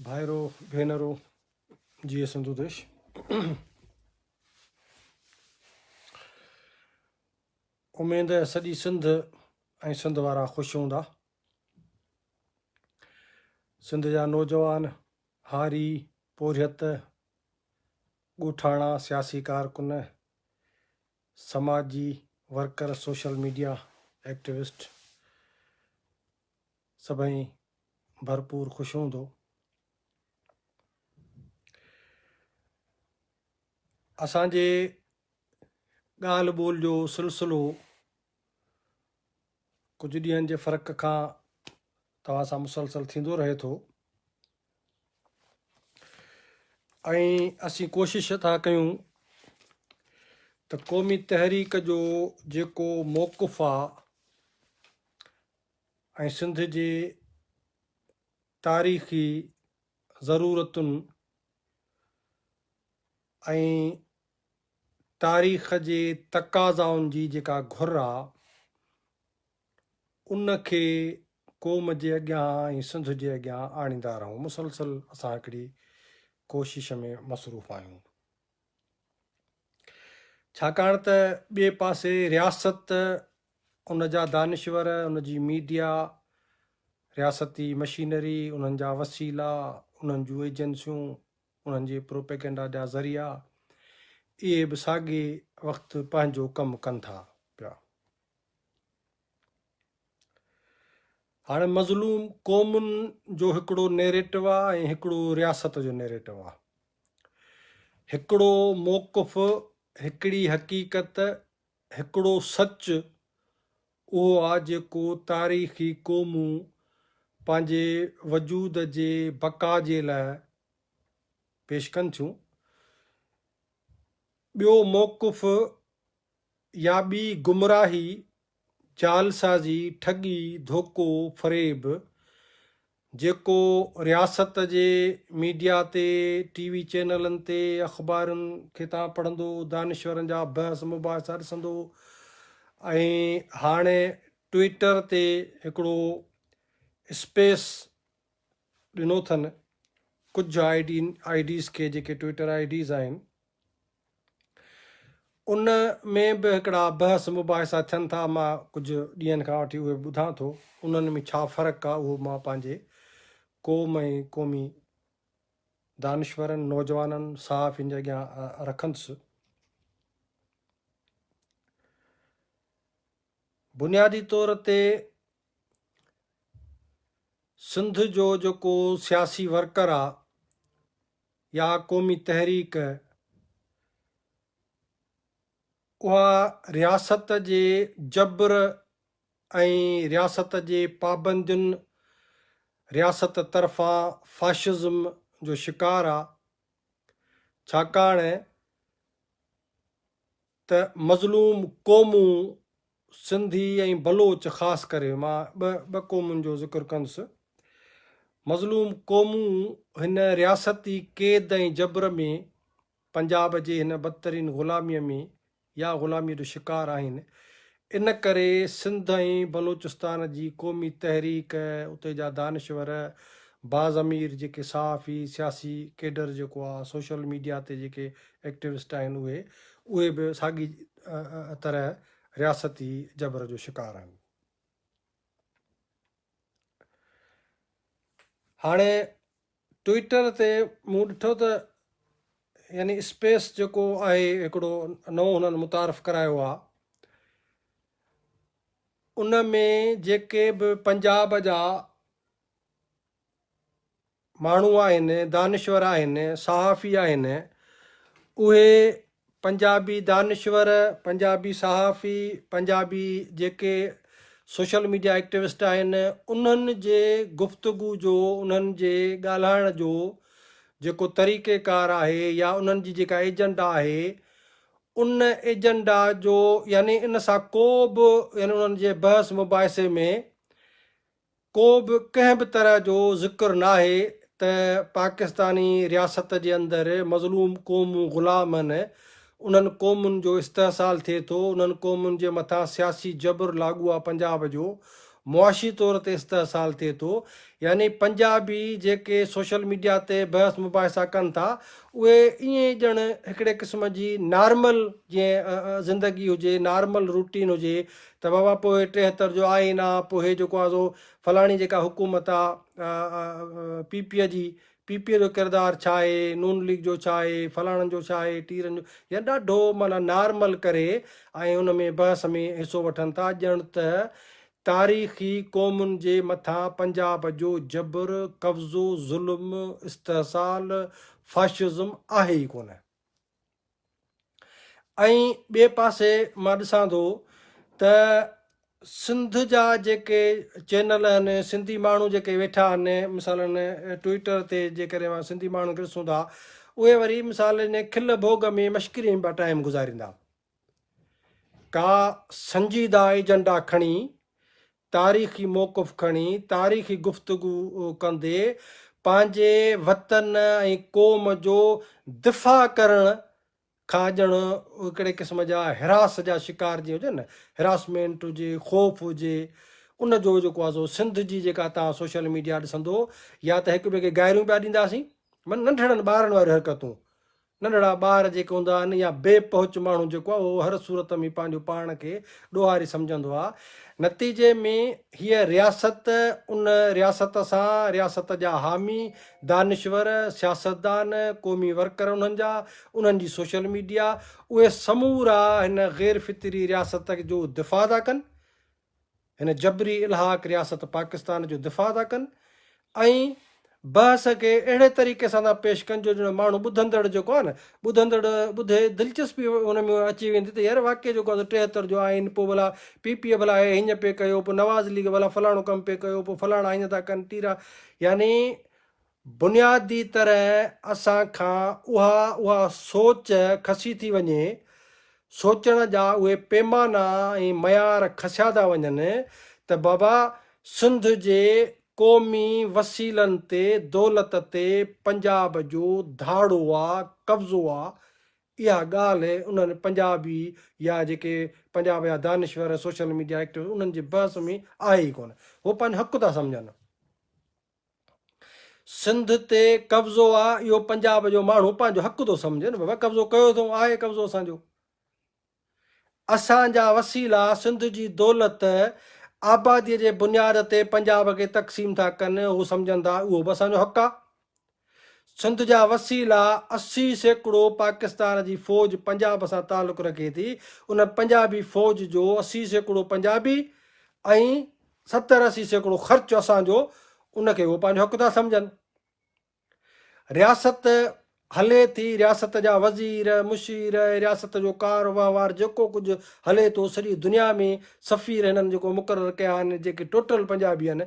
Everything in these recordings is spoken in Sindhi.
ڀائرو ڀينرو جي سنڌو ديش اميد ہے سڄي سنڌ ۽ سنڌ وارا خوش هوندا سنڌ جا نوجوان هاري پورهيت ڳوٺاڻا سياسي ڪارڪن سماجي ورڪر، سوشل ميڊيا ايڪٽيوسٽ سڀئي ڀرپور خوش هوندو. اسان جي ڳالهه ٻولهه جو سلسلو ڪجهه ڏينهن جي فرق کان توهان سان مسلسل ٿيندو رهي ٿو. ۽ اسين ڪوشش ٿا ڪيون ته قومي تحريڪ جو جيڪو موقف آ ۽ سنڌ جي تاريخي ضرورتن ۽ تاريخ جي تقاضائن جي جيڪا گهر آ، ان کي قوم جي اڳيان ۽ سنڌ جي اڳيان آڻيندا رهون. مسلسل اسان هڪڙي ڪوشش ۾ مصروف آهيون. ڇاڪاڻ ته ٻئي پاسي رياست، ان جا دانشور، ان جي ميڊيا، رياستي مشينري، انهن جا وسيلا، انهن جون ايجنسيون، انهن جي پروپيگنڊا جا ذريعا، اهي به ساڳئي وقت پنهنجو ڪم ڪن ٿا پيا. هاڻي مظلوم قومن جو هڪڙو نيريٽو آ ۽ هڪڙو رياست جو نيريٽو آ. هڪڙو موقف، هڪڙي حقيقت، هڪڙو سچ اهو آ جيڪو تاريخي قومون پنهنجي وجود جي بقا جي لاء پيش ڪن ٿيون. ٻيو موقف، يا ٻي گمراهي، جعلسازي، ٺڳي، ڌوڪو، فريب، جيڪو رياست جي ميڊيا تي، ٽي وي چينلن تي، اخبارن کي تان پڙهندو، دانشورن جا بحث مباحثا ڏسندو ۽ هاڻي ٽوئيٽر تي هڪڙو اسپيس ڏنو اٿن ڪجهه آئي ڊيز کي جيڪي ٽوئيٽر آئي ڊيز آهن. ان ۾ به هڪڙا بحث مباحثا ٿين ٿا، مان ڪجهه ڏينهن کان وٺي اهي ٻڌان ٿو، انهن ۾ ڇا فرق آ اهو مان پنهنجي قوم ۽ قومي دانشورن، نوجوانن، صحافين جي اڳيان رکندس. بنيادي طور تي سنڌ جو جيڪو سياسي ورڪر آ، يا قومي تحريڪ، اها رياست جي جبر ۽ رياست جي پابندين، رياست طرفان فاشزم جو شڪار آ، ڇاڪاڻ ته مظلوم قومون سنڌي ۽ بلوچ خاص ڪري مان ٻه ٻه قومن جو ذڪر ڪندس مظلوم قومون هن رياستي قيد ۽ جبر ۾ پنجاب جي هن بدترين غلاميء ۾ يا غلاميء جو شڪار آهن ان ڪري سنڌ ۽ بلوچستان جي قومي تحريڪ، اتي جا دانشور، باضمير جيڪي صحافي، سياسي ڪيڊر جيڪو آ، سوشل ميڊيا تي جيڪي ايڪٽوسٽ آهن اهي، اهي به ساڳي طرح رياستي جبر جو شڪار آهن. هاڻي ٽوئيٽر تي مون ڏٺو ته يعني اسپيس جيڪو آهي هڪڙو نئون هنن متعارف ڪرايو آهي ان ۾ جيڪي به پنجاب جا ماڻهو آهن دانشور آهن صحافي آهن اهي پنجابي دانشور، پنجابي صحافي، پنجابي جيڪي سوشل ميڊيا ايڪٽيوسٽ آهن انهن جي گفتگو جو انهن جي ڳالهائڻ جو جيڪو طريقي ڪار آهي يا انهن جي جيڪا ايجنڊا آهي ان ايجنڊا جو يعني ان سان ڪو به يعني انهن جي بحث مباحثي ۾ ڪو به ڪنهن به طرح جو ذڪر ناهي ته پاڪستاني رياست جي اندر مظلوم قومون غلام هن، انهن قومن جو استحصال ٿئي ٿو، انهن قومن جي مٿان سياسي جبر لاڳوآ پنجاب جو معاشي طور تي استحصال ٿئي ٿو، يعني پنجابي جيڪي سوشل ميڊيا تي بحث مباحثا ڪن ٿا اهي ائين ڄڻ هڪڙي قسم جي نارمل جيئن زندگي هجي نارمل روٽين هجي ته بابا پوء ٽيهتر جو آئين آ، پوء هي جيڪو آ سو فلاڻي جيڪا حڪومت آ، پي پي جي، پي پي جو ڪردار ڇا آهي، نون ليگ جو ڇا آهي، فلاڻن جو ڇا آهي، ٽيرن جو، يعني ڏاڍو معنيٰ نارمل ڪري ۽ ان ۾ بحث ۾ حصو وٺن ٿا ڄڻ ته تاريخي قومن جي مٿان پنجاب جو جبر، قبضو، ظلم، استحصال، فاشزم آهي ئي ڪونه. ۽ ٻئي پاسي مان ڏسان ٿو ته سنڌ جا جيڪي چينل آهن سنڌي ماڻهو جيڪي ويٺا آهن مثالا ٽوئيٽر تي جيڪڏهن مان سنڌي ماڻهن کي ڏسون ٿا اهي وري مثال ان کل ڀوڳ ۾ مشڪري ۾ پيا ٽائيم گذاريندا ڪا سنجيده ايجنڊا کڻي تاريخي موقف کڻي تاريخي گفتگو ڪندي پنهنجي وطن ۽ قوم جو دفاع ڪرڻ کان ڄڻ هڪڙي قسم جا حراس جا شڪار جيئن هجن نه حراسمينٽ هجي خوف هجي ان جو جيڪو آهي سو سنڌ جي جيڪا توهان سوشل ميڊيا ڏسندو يا ته هڪ ٻئي کي گائريون پيا ڏينداسين معنيٰ ننڍڙن ٻارن واريون حرڪتون ننڍڙا ٻار جيڪي هوندا آهن يا بي پهچ ماڻهو جيڪو آهي اهو هر صورت ۾ پنهنجو پاڻ کي ڏوهاري سمجهندو آهي. نتيجي ۾ هيء رياست، ان رياست سان رياست جا حامي، دانشور، سياستدان، قومي ورڪر انهن جا، انهن جي سوشل ميڊيا، اهي سمورا هن غير فطري رياست جو دفاع ٿا ڪن. هن جبري الحاق رياست پاڪستان جو دفاع ٿا ڪن ۽ بحث کي اهڙي طريقي سان ٿا پيش ڪن جو ڄڻ ماڻهو ٻڌندڙ جيڪو آهي نه ٻڌندڙ ٻڌي دلچسپي ان ۾ اچي ويندي ته يار واقعي جيڪو آهي ٽيهتر جو آئين پوء ڀلا پي پي اي ڀلا هي هينئن پئي ڪيو پوء نواز ليگ ڀلا فلاڻو ڪم پئي ڪيو پوء فلاڻا هينئن ٿا ڪن تيرا يعني بنيادي طرح اسان کان اها اها سوچ کسي ٿي وڃي، سوچڻ جا اهي پيمانا ۽ معيار کسيا ٿا وڃن ته بابا سنڌ جي قومي وسيلن تي دولت تي پنجاب جو ڌاڙو آ، قبضو آ، اها ڳالهه انهن پنجابي يا جيڪي پنجاب جا دانشور سوشل ميڊيا ايڪٽوسٽ انهن جي بحث ۾ آهي ئي ڪونه، هو پنهنجو حق ٿا سمجهن. سنڌ تي قبضو آ اهو پنجاب جو ماڻهو پنهنجو حق ٿو سمجهي نه بابا قبضو ڪيو اٿئون آهي قبضو اسان جو اسان جا وسيلا سنڌ جي دولت آبادي جي بنياد تي پنجاب کي تقسيم ٿا ڪن هو سمجهن ٿا اهو به اسان جو حق آ سنڌ جا وسيلا اسي سيڪڙو پاڪستان جي فوج پنجاب سان تعلق رکي ٿي ان پنجابي فوج جو اسي سيڪڙو پنجابي ۽ ستر اسي سيڪڙو خرچ اسان جو ان کي اهو پنهنجو حق ٿا سمجهن. رياست هلي ٿي، رياست جا وزير، مشير، رياست جو ڪار وهنوار جيڪو ڪجهه هلي ٿو سڄي دنيا ۾ سفير هنن جيڪو مقرر ڪيا آهن جيڪي ٽوٽل پنجابي آهن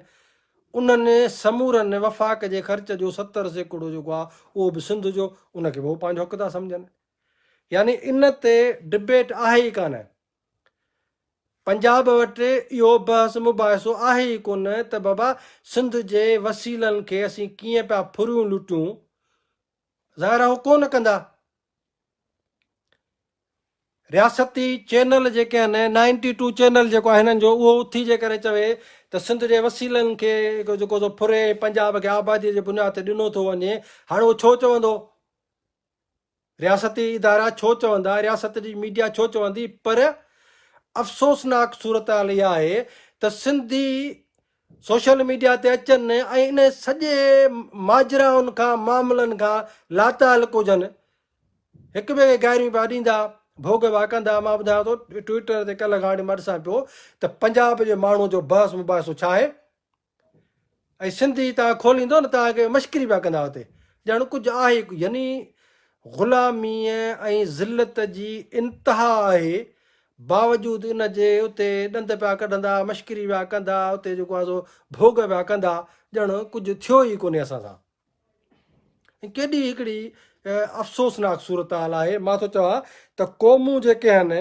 انهن سمورن وفاق جي خرچ جو ستر سيڪڙو جيڪو آهي اهو به سنڌ جو ان کي به اهو پنهنجو حق ٿا سمجهن يعني ان تي ڊبيٽ آهي ئي ڪانه. پنجاب وٽ اهو بحث مباحثو آهي ئي ڪونه ته بابا سنڌ جي وسيلن کي اسين ڪيئن پيا ڦريون لٽيون، ظاهر آهي هو ڪونه ڪندا. رياستي چينل جيڪي آهن، نائنٽي ٽو چينل جيڪو آهي هنن جو، اهو اٿي جيڪڏهن چوي ته سنڌ جي وسيلن کي جيڪو سو ڦري ۽ پنجاب کي آباديء جي بنياد تي ڏنو ٿو وڃي، هاڻ اهو ڇو چوندو؟ رياستي ادارا ڇو چوندا، رياست جي ميڊيا ڇو چوندي پر افسوسناڪ صورتحال اها آهي ته سنڌي سوشل ميڊيا تي اچن ۽ انهن سڄي ماجرائن کان معاملن کان لاتعلق هجن هڪ ٻئي کي گاريون پيا ڏيندا ڀوڳ پيا ڪندا مان ٻڌايان ٿو ٽوئيٽر تي ڪلهه کان وٺي مان ڏسان پيو ته پنجاب جي ماڻهو جو بحث مباحثو ڇا آهي ۽ سنڌي توهان کوليندو نه توهان کي مشڪري پيا ڪندا اتي ڄڻ ڪجهه آهي ئي ڪو يعني غلاميء ۽ ذلت جي انتها آهي باوجود ان جي اتي ڏند پيا ڪڍندا مشڪري پيا ڪندا اتي جيڪو آهي سو ڀوڳ پيا ڪندا ڄڻ ڪجهه ٿيو ئي ڪونهي اسان سان ۽ ڪيڏي هڪڙي افسوسناڪ صورتحال آهي مان ٿو چوان ته قومون جيڪي آهن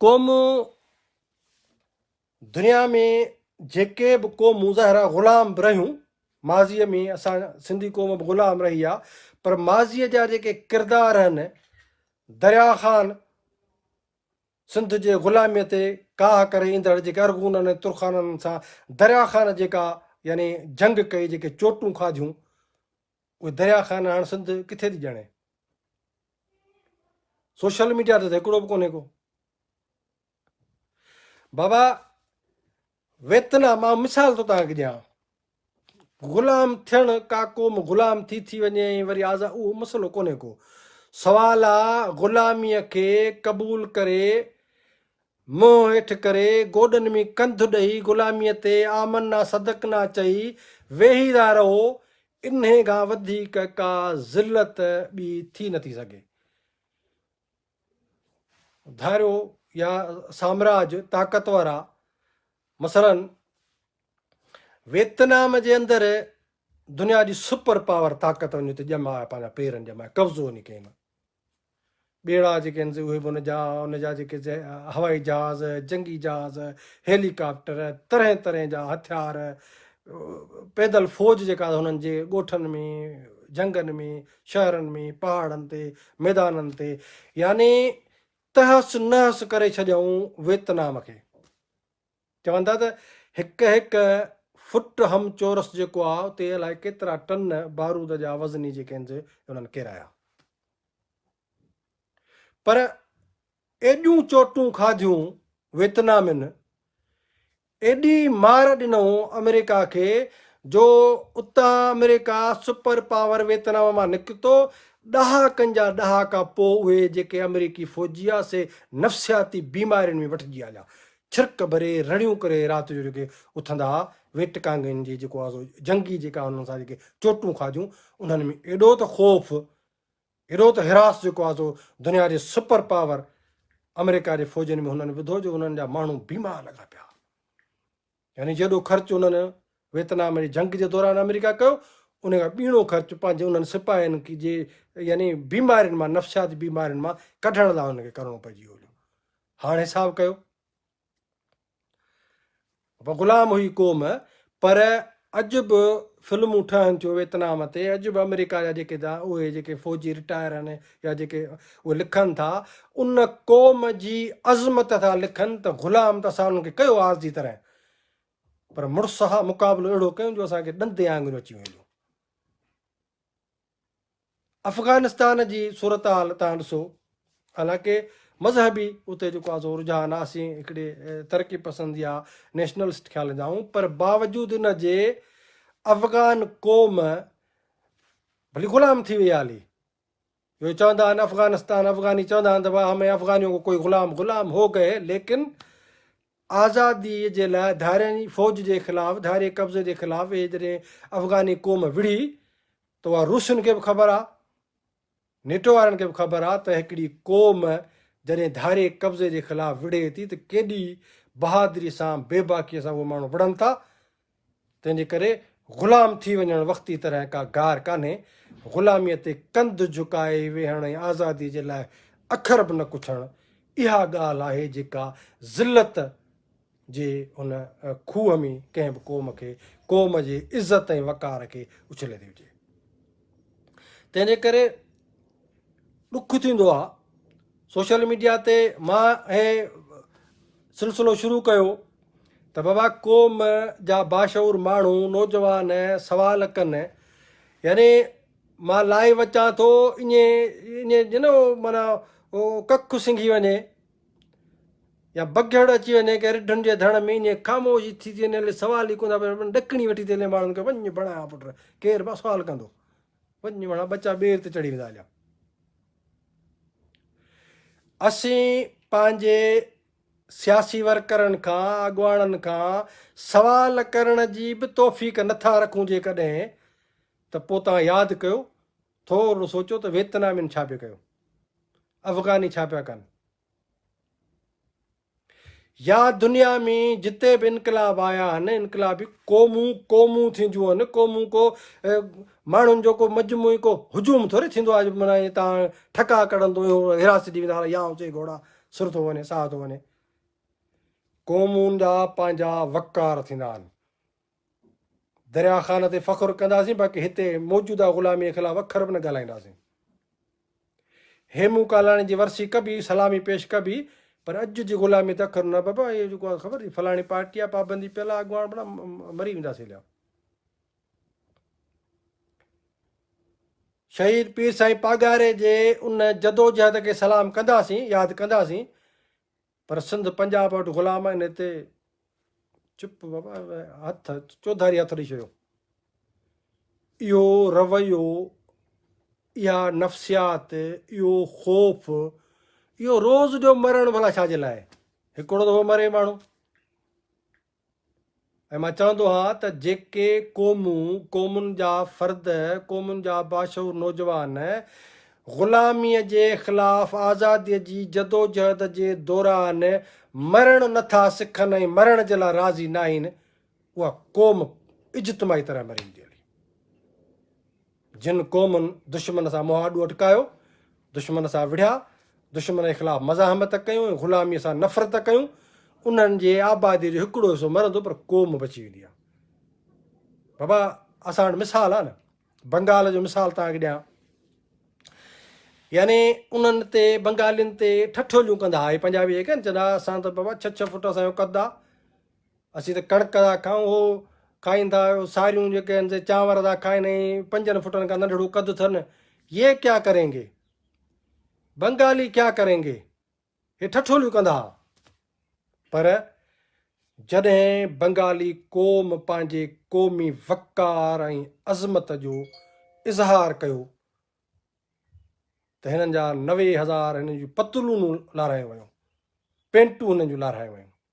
قومون دنيا ۾ جيڪي به قوم مظاهرا غلام به رهيون ماضي ۾ اسان سنڌي قوم به غلام رهي آ پر ماضي جا جيڪي ڪردار هن دريا خان سنڌ جي غلامي تي ڪاهه ڪري ايندڙ جيڪي ارغونن ۽ ترخانن سان دريا خان جيڪا يعني جنگ ڪئي جيڪي چوٽون کاڌيون اهي دريا خان هاڻ سنڌ ڪٿي ٿي ڄاڻي سوشل ميڊيا تي هڪڙو به ڪونهي ڪو بابا ويتنا مان مثال ٿو توهان کي ڏيان غلام ٿيڻ ڪا قوم غلام ٿي ٿي وڃي ۽ وري آزاد اهو مسئلو ڪونهي ڪو سوال آ غلامي کي قبول ڪري منهن هيٺ ڪري گوڏن ۾ ڪنڌ ڏئي غلامي تي آمنا صدقنا چئي ويهي ٿا رهو انهي کان وڌيڪ ڪا ذلت ٻي ٿي نٿي سگهي. ڌاريو يا سامراج طاقتور آ مثلا ويتنام جي اندر دنيا جي سپر پاور طاقت وڃي ته ڄما پنهنجا پيرن ڄما قبضو وڃي ڪين ٻيڙا جيڪي آهن اهي به ان جا ان جا جيڪي هوائي جهاز جنگي جهاز هيليڪاپٽر طرح طرح جا هٿيار پيدل فوج جيڪا هنن جي ڳوٺن ۾ جنگن ۾ شهرن ۾، پهاڙن تي، ميدانن تي، يعني تهس نهس ڪري ڇڏيائون ويتنام کي. چون ٿا ته هڪ هڪ فٽ هم چورس جيڪو آ اتي الائي ڪيترا ٽن بارود جا وزني جيڪي هنز انهن ڪيرايا. پر ايڏيون چوٽون کاڌيون ويتنامين، ايڏي مار ڏنئون آمريڪا کي جو اتان آمريڪا سپر پاور ويتنام مان نڪتو، ڏهاڪن جا ڏهاڪا پوء اهي جيڪي آمريڪي فوجي هئا سي نفسياتي بيمارين ۾ وٺجي هليا، ڇرڪ ڀري رڙيون ڪري رات جو جيڪي اٿندا هئا، ويٽڪانگين جي جيڪو آهي سو جنگي جيڪا انهن سان جيڪي چوٽون کاڌيون انهن ۾ ايڏو ته خوف اهڙو ته هراس جيڪو آهي سو دنيا جي سپر پاور آمريڪا جي فوجين ۾ هنن وڌو جو انهن جا ماڻهو بيمار لڳا پيا يعني جيڏو خرچ انهن ويتنام جي جنگ جي دوران آمريڪا ڪيو ان کان ٻيڻو خرچ پنهنجي انهن سپاهين کي جي يعني بيمارين مان نفسياتي بيمارين مان ڪڍڻ لاء انهن کي ڪرڻو پئجي ويو هاڻ حساب ڪيو و غلام هئي قوم پر اڄ به فلمون ٺهن ٿيون ويتنام تي اڄ به آمريڪا جا جيڪي دا اهي جيڪي فوجي رٽائر آهن يا جيڪي اهي لکن ٿا ان قوم جي عظمت ٿا لکن ته غلام ته اسان انهن کي ڪيو آز جي طرح پر مڙس ها مقابلو اهڙو ڪيون جو اسان کي ڏندي آنگريون اچي ويون افغانستان جي صورتحال تان ڏسو حالانڪه مذهبي اتي جيڪو آ سو رجحان آ اسين هڪڙي ترقي پسند يا نيشنلسٽ خيال جا آهيون پر باوجود ان جي افغان قوم ڀلي غلام ٿي وئي هالي جو چوندا آهن افغانستان افغاني چوندا آهن ته واهه ۾ افغانيو ڪوئي غلام غلام هو گئي ليڪن آزادي جي لاء ڌارين ئي فوج جي خلاف ڌارين قبضي جي خلاف اهي جڏهن افغاني قوم وڙهي ته اها روسين کي به خبر آ نيٽو وارن کي به خبر آ ته هڪڙي قوم جڏهن ڌارين قبضي جي خلاف وڙهي ٿي ته ڪيڏي بهادري سان بيباڪي سان اهي ماڻهو وڙهن ٿا تنهن جي ڪري غلام ٿي وڃڻ وقتي طرح ڪا گار ڪانهي. غلاميء تي ڪنڌ جهڪائي ويهڻ ۽ آزاديء جي لاء اکر به نه ڪڇڻ، اها ڳالهه آهي جيڪا ذلت جي ان کوهه ۾ ڪنهن به قوم کي قوم جي عزت ۽ وقار کي اڇلي ٿي وجهي. تنهن جي ڪري ڏک ٿيندو آهي سوشل ميڊيا تي مان هي سلسلو شروع ڪيو ته بابا قوم جا باشعور ماڻهو نوجوان سوال ڪن يعني مان لائيو اچان ٿو ائين ائين ڄڻ مانا ڪک سنگهي وڃي يا بگهڙ اچي وڃي ڪنهن رڍن جي ڌڻ ۾ ائين خاموش ٿي ٿي وڃي سوال ئي ڪونه ٿا پڇن ڏڪڻي وٺي ٿي هلي ماڻهن کي وڃ بڻايا پٽ ڪير به سوال ڪندو وڃ بڻا ٻچا ٻير تي چڙهي ويندا هليا اسين پنهنجي سياسي ورڪرن کان اڳواڻن کان سوال ڪرڻ جي به توفيق نٿا رکون جيڪڏهن ته پوء تان ياد ڪيو ٿورڙو سوچيو ته ويتنامين ڇا پي ڪيو؟ افغاني ڇا پيا ڪن؟ يا دنيا ۾ جتي به انقلاب آيا آهن، انقلابي قومون قومون ٿينديون آهن، قومون ڪو ماڻهن جو ڪو مجموعي ڪو هجوم ٿوري ٿيندو آهي جو معنيٰ تان ٺڪا ڪڙندو اهو حراست ڏي ويندا يا اوچي گهوڙا سر ٿو وڃي ساهه ٿو وڃي. قومون جا پنهنجا وقار ٿيندا آهن. دريا خان تي فخر ڪنداسين باقي هتي موجوده غلامي خلاف اکر به نه ڳالهائينداسين. هيمون ڪالاڻي جي ورسي ڪبي، سلامي پيش ڪبي پر اڄ جي غلامي تي اکر نه ٻئبا. اهي جيڪو آهي خبر ٿي فلاڻي پارٽي آ پابندي پيل آ اڳواڻ بڻا مري ويندا سيليا. شهيد پير سائين پاڳاري جي ان جدوجهد کي سلام ڪنداسين، ياد ڪنداسين پر سنڌ پنجاب وٽ غلام آهن هتي چپ هٿ چوڌاري هٿ ڏئي ڇڏيو اهو رويو اها نفسيات اهو خوف اهو روز جو مرڻ ڀلا ڇا جي لاء هڪڙو دفعو مري ماڻهو ۽ مان چوندو ها ته جيڪي قومون، قومن جا فرد، قومن جا باشعور نوجوان غلاميء جي خلاف آزاديء جي جدوجهد جي دوران مرڻ نه ٿا سکن ۽ مرڻ جي لاء راضي ناهن، اها قوم اجتماعي طرح مري ويندي هلي. جن قومن دشمن سان منهن آڏو اٽڪايو، دشمن سان وڙهيا، دشمن جي خلاف مزاحمت ڪيون ۽ غلاميء سان نفرت ڪيون، انهن جي آباديء جو هڪڙو حصو مرندو پر قوم بچي ويندي آ. بابا اسان وٽ مثال آ نه. بنگال جو مثال توهان کي ڏيان. يعني انهن تي بنگالين تي ٺٺوليون ڪندا هئا، هي پنجابي جيڪي آهن چوندا اسان ته بابا ڇهه ڇهه فوٽ اسان جو قد آ، اسين ته ڪڻڪ ٿا کائون اهو کائين ٿا ساريون جيڪي آهن سي چانور ٿا کائين ۽ پنجن فٽن کان ننڍڙو قد اٿن يي ڪيا ڪرينگي بنگالي ڪيا ڪرينگي هي ٺٺوليون ڪندا ها پر جڏهن بنگالي قوم پنهنجي قومي وقار ۽ عظمت جو اظهار ڪيو ته هنن جا نوي هزار هنن جون پتلونون لارهايون ويون پينٽون هنن جون لارهايون ويون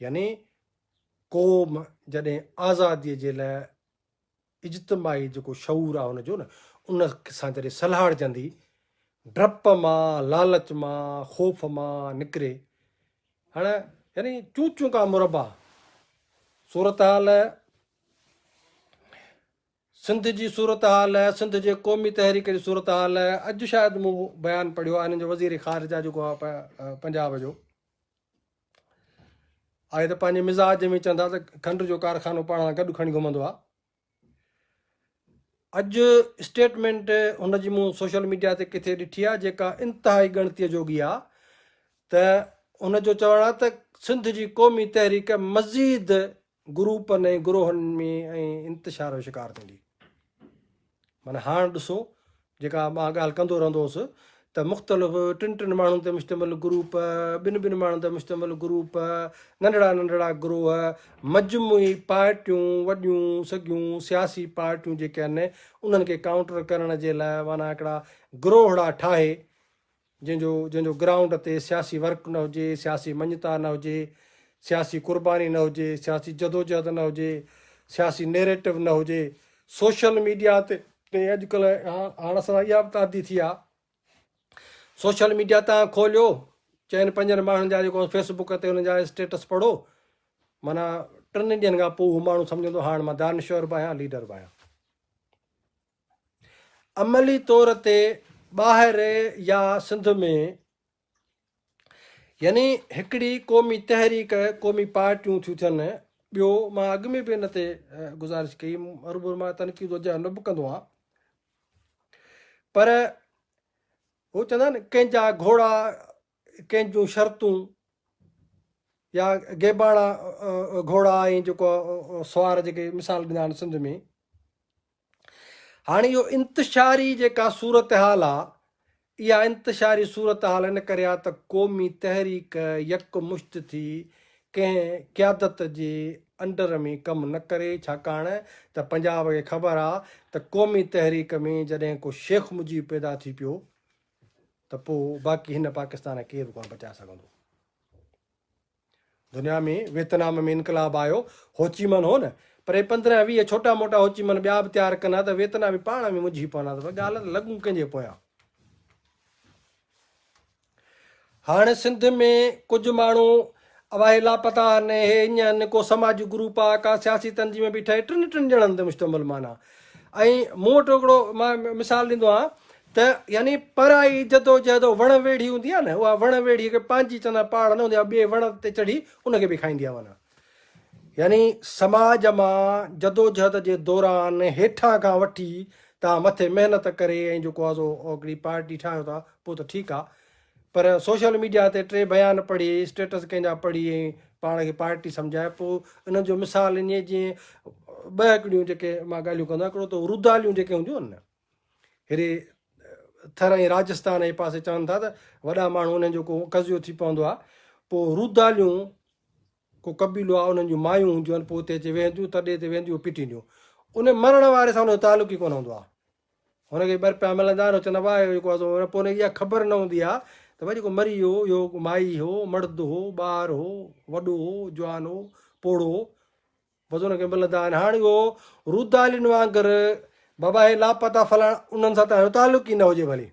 يعني قوم جڏهن آزادي جي لاء اجتماعي جيڪو شعور آهي ان جو نه ان سان جڏهن سلهاڙجندي ڊپ مان لالچ مان خوف مان نڪري هاڻ يعني چون چون کا مربع صورتحال سنڌ جي صورتحال، سنڌ جي قومي تحريڪ جي صورتحال، اڄ شايد مون بيان پڙهيو آهي هنن جو وزير خارجه جيڪو آهي پنجاب جو، آهي ته پنهنجي مزاج ۾ چون ٿا ته کنڊ جو ڪارخانو پاڻ سان گڏ کڻي گهمندو آهي. اڄ اسٽيٽمينٽ هن جي مون سوشل ميڊيا تي ڪٿي ڏٺي آهي جيڪا انتهائي ڳڻتي جوڳي آهي ته هن جو چوڻ آهي ته سنڌ جي قومي تحريڪ مزيد گروپن ۽ گروهن ۾ ۽ انتشار جو شڪار ٿيندي. معنيٰ هاڻ ڏسو جيڪا مان ڳالهه ڪندو رهندو هوس ته مختلف ٽن ٽن ماڻهن تي مشتمل گروپ، ٻن ٻن ماڻهن تي مشتمل گروپ، ننڍڙا ننڍڙا گروهه، مجموعي پارٽيون، وڏيون سگهيون سياسي پارٽيون جيڪي آهن انهن کي ڪائونٽر ڪرڻ جي لاء معنيٰ هڪڙا گروهڙا ٺاهي جنهن جو جنهن جو گرائونڊ تي سياسي ورڪ نه هجي، سياسي مڃتا نه هجي، سياسي قرباني نه هجي، سياسي جدوجهد نه هجي، سياسي نيريٽو نه هجي، سوشل ميڊيا تي تي اڄ ڪلهه هاڻ اسان اها به ته عادي ٿي آ سوشل ميڊيا تان کوليو چئن پنجن ماڻهن جا جيڪو فيس بوڪ تي انهن جا اسٽيٽس پڙهو معنيٰ ٽن ڏينهن کان پوء هو ماڻهو سمجهندو هاڻ مان دانشور به آهيان ليڊر به آهيان. عملي طور تي ٻاهر يا سنڌ ۾ يعني هڪڙي قومي تحريڪ قومي پارٽيون ٿيون ٿين ٻيو مان اڳ ۾ به ان تي گزارش ڪئي هربور مان تنقيد وجه نه به ڪندو آهيان پر هو چوندا آهن ڪنهن جا گهوڙا ڪنهن جون شرطون يا گيباڻا گهوڙا ۽ جيڪو سوار جيڪي مثال ڏنا آهن سنڌ ۾ هاڻي اهو انتشاري جيڪا صورتحال آ اها انتشاري صورتحال ان ڪري آ ته قومي تحريڪ يڪ مشت ٿي ڪنهن قيادت جي انڊر ۾ ڪم نه ڪري ڇاڪاڻ ته پنجاب کي خبر آ ته قومي تحريڪ ۾ جڏهن ڪو شيخ مجيب پيدا ٿي پيو ته پوء باقي هن پاڪستان کي ڪير به ڪونه بچائي سگهندو. دنيا ۾ ويتنام ۾ انقلاب آيو هوچي من هو نه پر هي پندرهن ويهه ڇوٽا موٽا هوچي من ٻيا به تيار ڪن ها ته ويتنامي پاڻ ۾ منجهي پون ها ته ڳالهه ته لڳون ڪنهن جي پويان. هاڻ سنڌ ۾ ڪجهه ماڻهو اواهي لاپتا هن هي اڃ هن ڪو سماجي گروپ ها ڪا سياسي تنظيم به ٺهي ٽن ٽن ڄڻن تي مشتمل معنيٰ ۽ مون وٽ هڪڙو مان مثال ڏيندو آهيان ته يعني پرائي جدوجهد وڻ ويڙهي هوندي آهي نه اها وڻ ويڙهي کي پنهنجي چوندا آهن پاڙ نه هوندي اها ٻئي وڻ تي چڙهي ان کي به کائيندي آهي معنيٰ يعني سماج مان جدوجهد جي دوران هيٺان کان وٺي توهان مٿي محنت ڪري ۽ جيڪو آزو هڪڙي پارٽي ٺاهيو ٿا پوء ته ٺيڪ آهي پر سوشل ميڊيا تي ٽي بيان پڙهي، اسٽيٽس ڪنهن جا پڙهي ۽ پاڻ کي پارٽي سمجهائي پوء انهن جو مثال اڃي جيئن ٻه هڪڙيون جيڪي مان ڳالهيون ڪندو آهيان، هڪڙو ته روداليون جيڪي هونديون آهن نه هيڏي ٿر ۽ راجستان جي پاسي چون ٿا ته وڏا ماڻهو انهن جو ڪو قضيو ٿي پوندو آهي پوء روداليون ڪو قبيلو آهي انهن جون مايون هونديون آهن پوء اتي اچي ويهنديون تڏي تي ويهنديون پٽينديون ان مرڻ واري سان ان جو تعلق ئي ڪونه هوندو آهي هن کي ٻر پيا ملندا آهن، هو چوندا هئا، اهو جيڪو آزو پوء هن کي اها خبر نه هوندي آ ته ڀاء جيڪو مري ويو هو، اهو مائي هو، مڙد هو، ٻار هو، وڏو هو، جوان هو، پوڙهو هو، بس هن کي ملندا آهن. هاڻ اهو رودالين وانگر بابا هي لاپتا فلاڻا انهن سان ته هنجو تعلق ئي نه هجي ڀلي.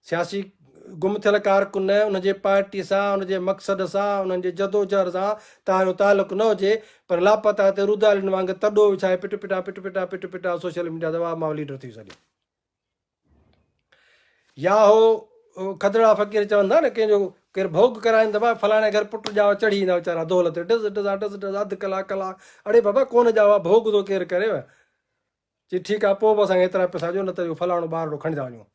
سياسي گم ٿيل ڪارڪن ان جي پارٽي سان، ان جي مقصد سان، انهن جي جدوجهر سان تهايو تعلق نه هجي پر لاپتا تي رودارين وانگي تڏو وڇائي پٽ پٽا پٽ پٽا پٽ پٽا سوشل ميڊيا تي واهه ماهه ليڊر ٿيون سڏين. يا هو کدڙا فقير چون ٿا نه ڪنهن جو ڪير ڀوڳ ڪرائين ته ڀاء فلاڻي گهر پٽ ڄاوا چڙهي ايندا ويچارا دول تي ڊز ڊز ڊز ڊز اڌ ڪلاڪ ڪلاڪ اڙي بابا ڪونه ڄاوا ڀوڳ ٿو ڪير ڪريو چي ٺيڪ آ پوء به اسان کي ايترا پئسا ڏيو نه ته اهو فلاڻو ٻارڙو کڻي ٿا وڃون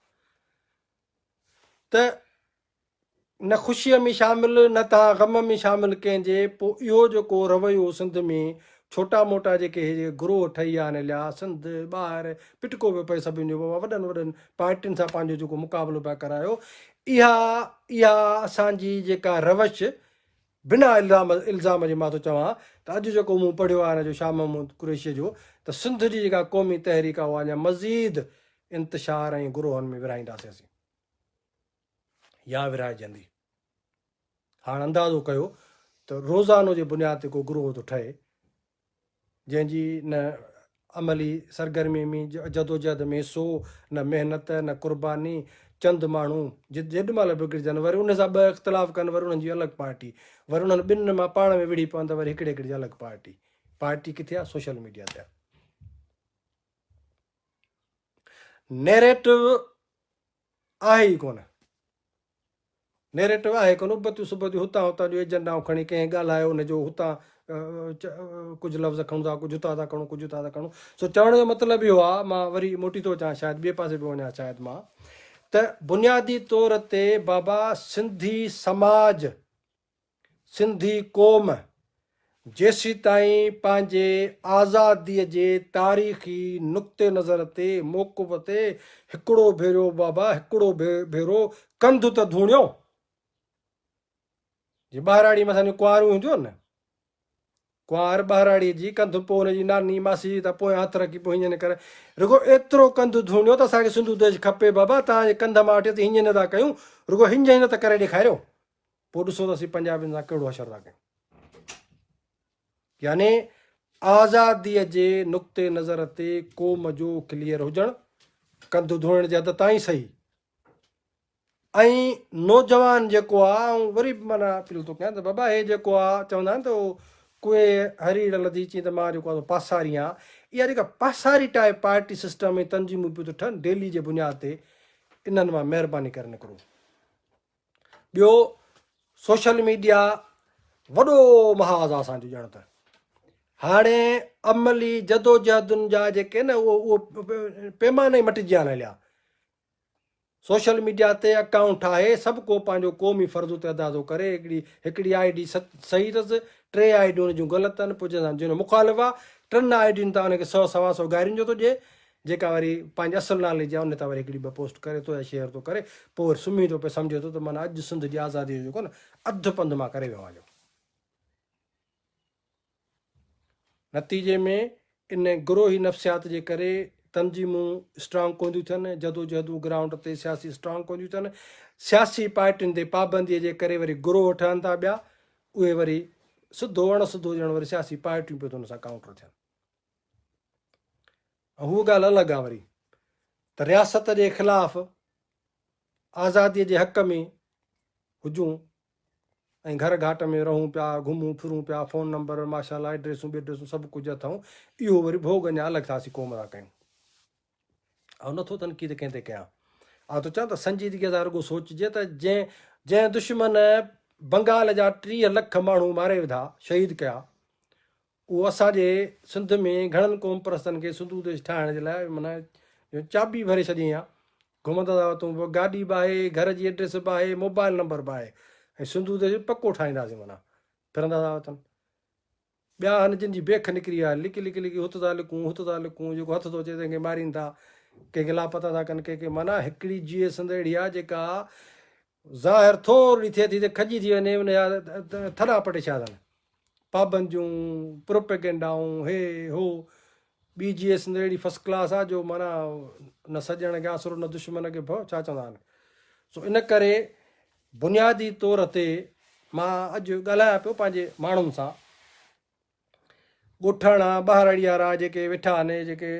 ته نه خوشيء ۾ شامل نه تان غم ۾ شامل ڪنهن جي پوء اهو جيڪو رويو سنڌ ۾ ڇوٽا موٽا جيڪي هي جيڪي گروهه ٺهي ويا آهن اليا سنڌ ٻاهر پٽڪو پيو پئي سڀني جو بابا وڏن وڏن پارٽين سان پنهنجو جيڪو مقابلو پيا ڪرايو اها اها اسان جي جيڪا روش بنا الزام جي مان ٿو چوان ته اڄ جيڪو مون پڙهيو آهي ان جو شاهه محمود قريشيء جو ته سنڌ جي جيڪا قومي تحريڪ آهي اها اڃا مزيد انتشار ۽ گروهن ۾ ورهائينداسين اسين يا ورهائجندي. هاڻ اندازو ڪيو ته روزانو جي بنياد تي ڪو گروهه ٿو ٺهي جنهن جي نه عملي سرگرمي ۾ جدوجهد ۾ سو نه محنت نه قرباني چند ماڻهو جي جيڏمهل وگڙجن وري انهن سان ٻه اختلاف ڪن وري انهن جي الڳ پارٽي وري انهن ٻنهن مان پاڻ ۾ وڙهي پون ته وري هڪڙي هڪڙي جي الڳ پارٽي پارٽي ڪٿي آ سوشل ميڊيا تي نيريٽو آهي ئي ڪونه. نيريٽو آهي ڪونه. ابتيون صبح جون هتان هتان جون ايجنڊائون کڻي ڪنهن ڳالهايو ان جو هتان ڪجهه لفظ کڻون ٿا ڪجهه هتان ٿا کڻون ڪجهه هتان ٿا کڻون سو چوڻ جو مطلب اهو آهي مان وري موٽي ٿو اچان شايد ٻئي پاسي به وڃان شايد مان ته بنيادي طور تي بابا سنڌي سماج سنڌي قوم جيسيتائين پنهنجي آزاديء جي تاريخي نقطه نظر تي موقف تي هڪڙو ڀيرو بابا هڪڙو ڀيرو ڪنڌ ته ڌوڻيو جي ٻهراڙي ۾ اسان جون ڪنواريون هونديون هن نه ڪنوار ٻهراڙيء جي ڪنڌ پوء هن جي ناني، ماسي جي ته پويان هٿ رکي پوء هينئن ڪر. رڳو ايترو ڪنڌ ڌوڻيو ته اسان کي سنڌو ديش کپي بابا، توهان جي ڪنڌ مان وٺي اسين هينئن نه ٿا ڪيون، رڳو هينئن هينئن ته ڪري ڏيکاريو، پوء ڏسون ته اسين پنجابين سان ڪهڙو حشر ٿا ڪيون. يعني آزاديء جي نقطي نظر تي قوم جو ڪليئر هجڻ، ڪنڌ ڌوئڻ جي حد تائين سهي. ۽ نوجوان جيڪو آ آئون وري به معنيٰ اپيل ٿو ڪيان ته بابا هي جيڪو آ چوندا آهن ته ڪوئي هريڙ لڌي چين ته مان جيڪو آ سو پاساري آهيان اها جيڪا پاساري ٽائپ پارٽي سسٽم ۽ تنظيمون پيون ٿو ٺهن ڊيلي جي بنياد تي انهن مان مهرباني ڪري نڪرو. ٻيو سوشل ميڊيا وڏو محاذ آ اسان جو ڄڻ ته هاڻي عملي جدوجهدن جا جيڪي نه اهو اهو پيمانا ئي مٽجي آن هليا سوشل ميڊيا تي اڪائونٽ ٺاهي سڀ ڪو پنهنجو قومي فرض اتي ادا ٿو ڪري، هڪڙي هڪڙي آء ڊي صحيح اٿس، ٽي آء ڊيون ان جون غلط اٿن، پوء جنهن سان جنهن مخالف آ، ٽن آء ڊين تان ان کي سؤ سوا سؤ گارين جو ٿو ڏئي، جيڪا وري پنهنجي اصل نالي جي آ، ان تان وري هڪڙي ٻه پوسٽ ڪري ٿو يا شيئر ٿو ڪري، پوء وري سمهي ٿو پئي، سمجهي ٿو ته معنيٰ اڄ سنڌ جي آزاديء جو جيڪو نه اڌ پنڌ مان ڪري ويو آهيان. نتيجي ۾ ان گروهي نفسيات جي ڪري تنظيمون اسٽرانگ ڪونديون ٿين، جدوجهدون گرائونڊ تي سياسي اسٽرانگ ڪونديون ٿين، سياسي پارٽين تي پابندي جي ڪري وري گروهه ٺهن ٿا ٻيا، اهي وري سڌو اڻ سڌو ڄڻ وري سياسي پارٽيون پيو ان سان ڪائونٽر ٿين. هو ڳالهه الڳ آ وري ته رياست جي خلاف آزادي جي حق ۾ هجون ۽ گهر گهاٽ ۾ رهون پيا، گهمون ڦرون پيا، فون نمبر، ماشاء الله ايڊريسون بيڊريسون سڀ ڪجهه اٿئون، اهو وري ڀوڳ اڃا الڳ ٿا اسين قوم لا ڪيون. آئون نه ٿو تنقيد ڪنهن تي ڪيان، آئون ٿو چوان ته سنجيدگيء سان رڳو سوچجي ته جنهن جنهن دشمن بنگال جا ٽيهه لک ماڻهو ماري وڌا، شهيد ڪيا، اهو اسان جي سنڌ ۾ گهڻن قوم پرستن کي سنڌو ديش ٺاهڻ جي لاء معنيٰ جو چاٻي ڀري ڇڏيائين ها. گهمندا ٿا وتون به گاڏي به آهي، گهر جي ايڊريس به آهي، موبائل نمبر به آهي ۽ سنڌو ديش به پڪو ٺاهينداسين معنيٰ ڦرندا ٿا وتن. ٻيا آهن جن جي بيک نڪري وئي آهي، لڪي لڪي لڪي هت ٿا لڪون، هت ٿا لڪون، جيڪو هٿ ٿو اچي تنهن کي مارين ٿا، ڪنهن کي لاپتا ٿا ڪن، ڪنهن کي معنيٰ هڪڙي جيئي سنڌ اهڙي آهي جيڪا ظاهر ٿورڙي ٿئي ٿي ته کڄي ٿي وڃي ان جا ٿڏا پٽي ڇا اٿن پابنديون پروپيگنڊائون هي هو بي جي ايس اهڙي فسٽ ڪلاس آ جو معنيٰ نه سڄڻ کي آسرو نه دشمن کي ڀؤ ڇا چوندا آهن سو ان ڪري بنيادي طور تي مان اڄ ڳالهايان پيو پنهنجي ماڻهن سان ڳوٺاڻا ٻهراڙيارا جيڪي ويٺا آهن جيڪي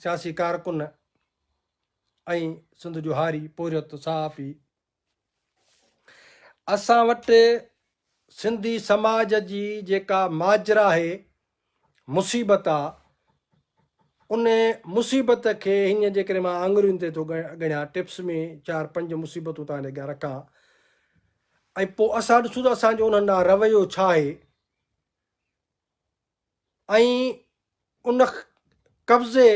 سياسي ڪارڪن ۽ سنڌ جو هاري پورهيت صحافي اسان وٽ سنڌي سماج جي جيڪا ماجرا آهي مصيبت آ ان مصيبت کي هينئر جيڪڏهن مان آڱرين تي ٿو ڳڻيان ٽپس ۾ چار پنج مصيبتون تان اڳيان رکان ۽ پوء اسان ڏسون ته اسانجو انهن ڏانهن رويو ڇا آهي ۽ ان قبضي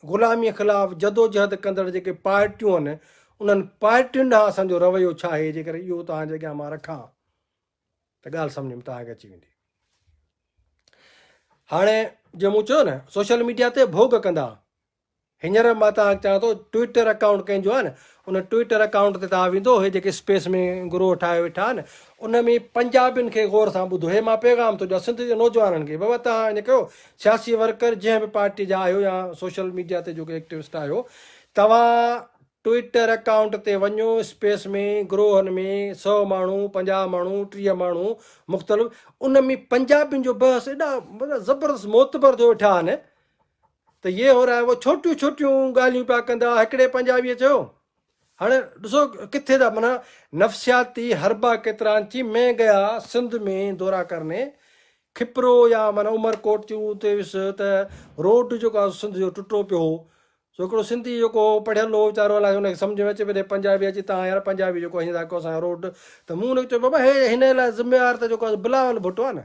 غلاميء خلاف جدوجهد ڪندڙ جيڪي پارٽيون آهن انهن پارٽين ڏانهن اسان جو رويو ڇا آهي جيڪڏهن اهو توهان جي اڳيان مان رکان ته ڳالهه سمجهه ۾ توهان کي اچي ويندي هاڻي جيئن مون چيو نه سوشل ميڊيا تي ڀوڳ ڪندا هينئر مان توهان کي چوان ٿو ٽوئيٽر اڪائونٽ ڪنهن جو آهي ان ٽوئيٽر اڪائونٽ تي توهان ويندو هي جيڪي اسپيس ۾ گروهه ٺاهيو ويٺا آهن ان ۾ پنجابين کي غور سان ٻڌو هي مان پيغام ٿو ڏيان سنڌ جي نوجوانن کي بابا توهان ائين ڪيو سياسي ورڪر جنهن به پارٽي جا آهيو يا سوشل ميڊيا تي جيڪي ايڪٽوسٽ آهيو توهان ٽوئيٽر اڪائونٽ تي وڃو اسپيس ۾ گروهن ۾ سو ماڻهو پنجاهه ماڻهو ٽيهه ماڻهو مختلف ان ۾ پنجابين جو بحث ايڏا زبردست معتبر ٿيو ويٺا آهن ته يي هو رائي هو ڇوٽيون ڇوٽيون ڳالهيون پيا ڪندا هڪڙي پنجابيء چيو هاڻي ڏسو ڪٿي ٿا معنيٰ نفسياتي حربا ڪيترانچي مين گيا سنڌ مين دورا ڪرني کپرو يا معنيٰ عمر ڪوٽ تي اتي ويس ته روڊ جيڪو آهي سنڌ جو ٽٽو پيو هو سو هڪڙو سنڌي جيڪو هو پڙهيل هو ويچارو الائي ان کي سمجهه ۾ اچي پئي ته پنجابي اچي تان يار پنجابي جيڪو هين ٿا ڪيو اسان روڊ ته مون هن کي چيو بابا هي هن لاء ذميوار ته جيڪو بلاول ڀٽو آهي نه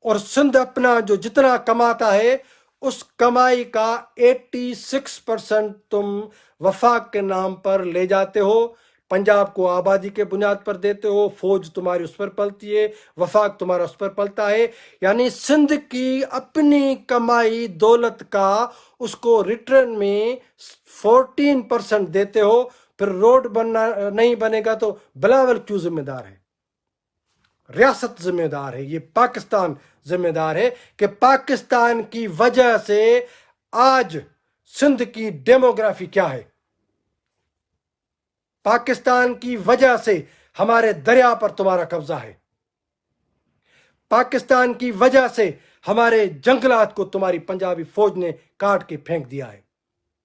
اور سنڌ اپنا جو جتنا ڪماتا هي اس ڪمائي ڪا ايٽي سڪس پرسنٽ تم وفاق ڪي نام پر لي جاتي هو پنجاب ڪو آبادي ڪي بنياد پر ديتي هو فوج تمهاري اس پر پلتي هي وفاق تمهارا اس پر پلتا هي يعني سنڌ ڪي اپني ڪمائي دولت ڪا اس ڪو ريٽرن مين فورٽين پرسنٽ ديتي هو پھر روڊ بننا نهين بنيگا تو بلاول ڪيون ذميدار هي. رياست ذميدار هي يي پاڪستان ذميدار هي ڪي پاڪستان ڪي وجه سي آج سنڌ ڪي ڊيموگرافي ڪيا هي پاڪستان ڪي وجه سي هماري دريا پر تمهارا قبضا هي پاڪستان ڪي وجه سي هماري جنگلات ڪو تمهاري پنجابي فوج ني ڪاٽ ڪي ڦينڪ ديا هي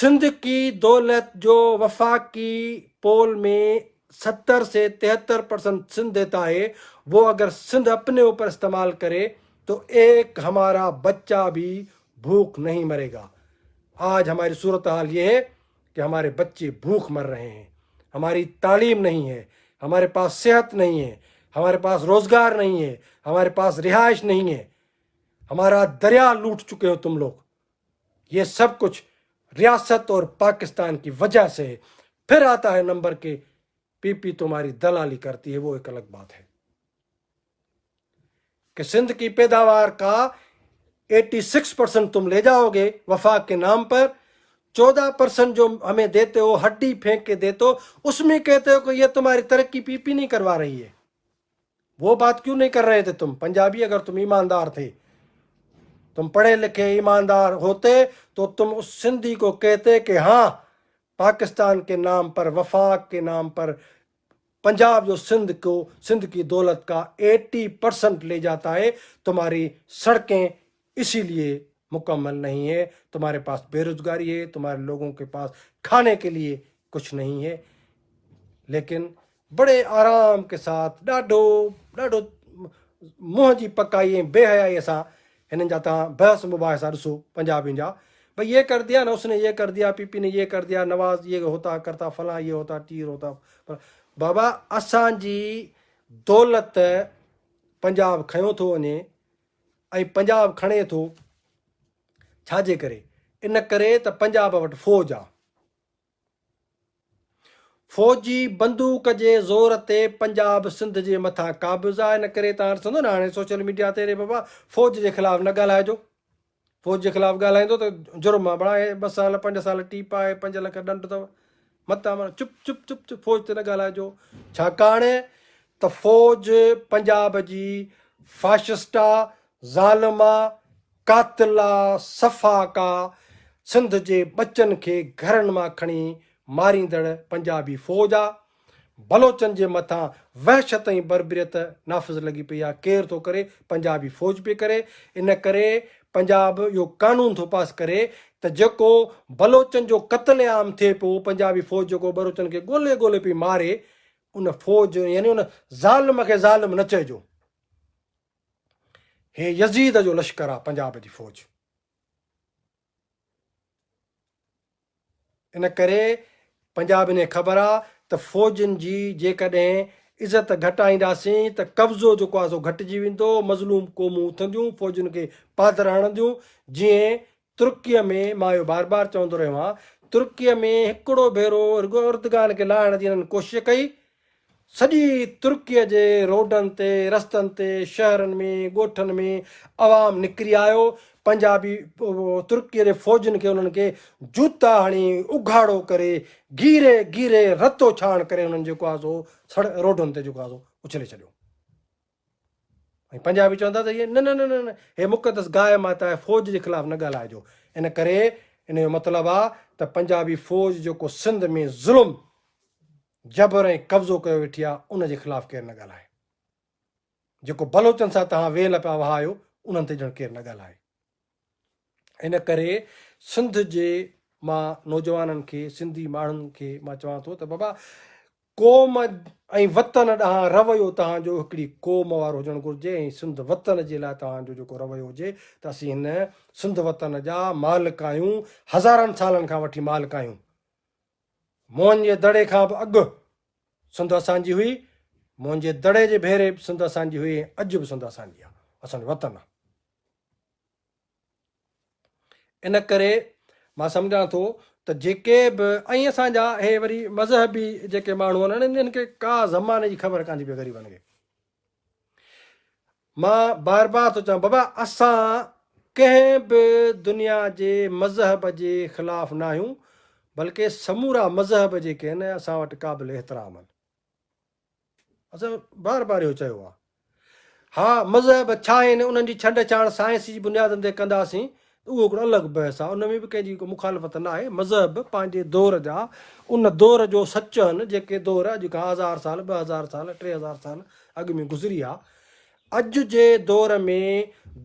سنڌڪي دولت جو وفاقي پول مين ستر سي تيهتر پرسنت سنڌ ديتا هي وو اگر سنڌ اپني اوپر استعمال ڪري تو ايڪ همارا بچا ڀي ڀوک نهين مري گا آج هماري صورت حال يه هي ڪي هماري بچي ڀوک مر رهي هين هماري تعليم نهين هي هماري پاس صحت نهين هي هماري پاس روزگار نهين هي هماري پاس رهائش نهين هي همارا دريا لوٽ چڪي هو تم لوگ يه سڀ ڪجھ رياست اور پاڪستان ڪي وجه سي هي پھر آتا هي نمبر ڪي پي پي تمهاري دلالي ڪرتي هي وو ايڪ الگ بات هي ڪي سنڌ ڪي پيداوار ڪا ايٽي سڪس پرسنٽ تم لي جائو گي وفاق ڪي نام پر چوده پرسنٽ جو همي ديتي هو هڊي ڦينڪ ڪي ديتو اس مي ڪهتي هو ڪي يه تمهاري ترقي پي پي نهي ڪروا رهي هي وو بات ڪيون نهين ڪر رهي تھي تم پنجابي اگر تم ايماندار تھي تم پڙھي لکھي ايماندار ھوتي تو تم اس سنڌي کو ڪهتي ڪي هان پاڪستان ڪي نام پر وفاق ڪي نام پر پنجاب جو سنڌ ڪو سنڌ ڪي دولت ڪا ايٽي پرسنٽ لي جاتا هي تمهاري سڙڪين اسي ليئي مڪمل نهين هي، تمهاري پاس بيروزگاري هي، تمهاري لوگون ڪي پاس کاني ڪي ليئي ڪڇ نهين هي، ليڪن بڙي آرام ڪي ساٿ ڏاڍو ڏاڍو منهن جي پڪائي ۽ بي حيائي سان هنن جا تهان بحث مباحثا ڏسو پنجابين جا ڀئي يه ڪر ديا نه اس ني يه ڪر ديا پي پي ني يه ڪر ديا نواز يه هوتا ڪرتا فلان يه هوتا ٽير هوتا بابا اسان جي دولت پنجاب کنيو ٿو وڃي ۽ پنجاب کڻي ٿو ڇاجي ڪري ان ڪري ته پنجاب وٽ فوج آ فوج جي بندوق جي زور تي پنجاب سنڌ جي مٿان قابض آ ان ڪري تان ڏسندو نه هاڻي سوشل ميڊيا تي ري بابا فوج جي خلاف نه ڳالهائجو فوج جي خلاف ڳالهائيندو ته جرم آ بڻائي ٻه سال پنج سال ٽي پائي پنج لک ڏنڊ اٿو متان مر چپ چپ چپ چپ فوج تي نه ڳالهائجو ڇاڪاڻ ته فوج پنجاب جي فاشسٽ آ ظالم آ قاتل آ سفاڪ آ سنڌ جي ٻچن کي گهرن مان کڻي ماريندڙ پنجابي فوج آ. بلوچن جي مٿان وحشت ۽ بربريت نافذ لڳي پئي آ ڪير ٿو ڪري پنجابي فوج پئي ڪري ان ڪري پنجاب اهو قانون ٿو پاس ڪري ته جيڪو بلوچن جو قتل عام ٿئي پيو پنجابي فوج جيڪو بلوچن کي ڳولي ڳولي پئي ماري ان فوج يعني ان ظالم کي ظالم نه چئجو هي يزيد جو لشڪر آ پنجاب جي فوج ان ڪري پنجابين کي خبر آ ته فوجين جي جيڪڏهن عزت گهٽائينداسين ته قبضو جيڪو آ سو گهٽجي ويندو، مظلوم قومون اٿنديون، فوجين کي پادر هڻنديون، جيئن ترڪيه ۾ مان اهو بار بار چوندو رهيو آهيان، ترڪيه ۾ هڪڙو ڀيرو رڳو اردگان کي لاهڻ جي هنن ڪوشش ڪئي سڄي ترڪيء جي روڊن تي، رستن تي، شهرن ۾، ڳوٺن ۾ عوام نڪري آيو، پنجابي ترڪيء جي فوجين کي انهن کي جوتا هڻي، اگهاڙو ڪري، گيري گيري رتو ڇاڻ ڪري انهن جيڪو آسو سڙ روڊن تي جيڪو آسو اڇلي ڇڏيو. ۽ پنجابي چوندا ته هيء نه نه نه نه هيء مقدس گاء ماتا آهي فوج جي خلاف نه ڳالهائجو ان ڪري ان جو مطلب آ ته پنجابي فوج جيڪو سنڌ ۾ ظلم جبر ۽ قبضو ڪيو ويٺي آ ان جي خلاف ڪير نه ڳالهائي جيڪو بلوچن سان توهان ويل پيا وهايو انهن تي ڄڻ ڪير نه ڳالهائي. ان ڪري سنڌ جي مان نوجوانن کي سنڌي ماڻهن کي مان چوان ٿو ته بابا قوم ۽ وطن ڏانهن رويو توهان جو هڪڙي قوم وارو هجڻ گهرجي ۽ سنڌ وطن جي لاء توهان جو جيڪو رويو هجي ته اسين هن سنڌ وطن جا مالڪ آهيون هزارن سالن کان وٺي مالڪ آهيون موهن جي دڙي کان به اڳ سنڌ اسان جي هئي موهن جي دڙي جي ڀيري به سنڌ اسان جي هئي اڄ به سنڌ اسان جي آهي اسان جو وطن آهي ان ڪري مان سمجهان ٿو ته جيڪي به ۽ اسان جا هي وري مذهبي جيڪي ماڻهو آهن انهن کي ڪا زماني جي خبر ڪانه پئي غريبن کي مان بار بار ٿو چوان بابا اسان ڪنهن به دنيا جي مذهب جي خلاف ناهيون بلڪه سمورا مذهب جيڪي آهن اسان وٽ قابل احترام آهن اسان بار بار اهو چيو آهي. ها مذهب ڇا آهن انهن جي ڇنڊ ڇاڻ سائنس جي بنيادن تي ڪنداسين ته اهو هڪڙو الڳ بحث آهي ان ۾ به ڪنهن جي ڪو مخالفت ناهي مذهب پنهنجي دور جا ان دور جو سچ آهن جيڪي دور اڄ کان هزار سال ٻه هزار سال ٽي هزار سال اڳ ۾ گذري آ اڄ جي دور ۾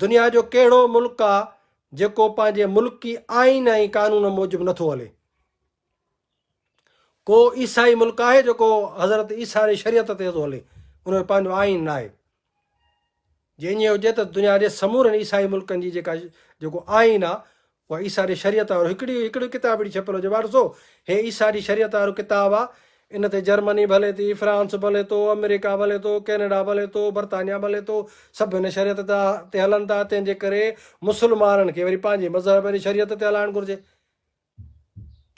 دنيا جو ڪهڙو ملڪ آ جيڪو پنهنجي ملڪي آئين ۽ قانون موجب نٿو هلي ڪو عيسائي ملڪ آهي جيڪو حضرت عيسيٰ واري شريعت تي ٿو هلي ان جو پنهنجو آئين ناهي جي ائين هجي ته دنيا جي سمورن عيسائي ملڪن جي جيڪا جيڪو آئين آهي اها عيسيٰ واري شريعت وارو هڪڙي هڪڙي ڪتاب اهڙي ڇپيل هجي ڀاء ڏسو هي عيسيٰ واري شريعت وارو ڪتاب آهي ان تي جرمني به هلي ٿي فرانس به هلي ٿو آمريڪا به هلي ٿو ڪينيڊا به هلي ٿو برطانيا به هلي ٿو سڀ هن شريعت تي هلن ٿا تنهن جي ڪري مسلمانن کي وري پنهنجي مذهب واري شريعت تي هلائڻ گهرجي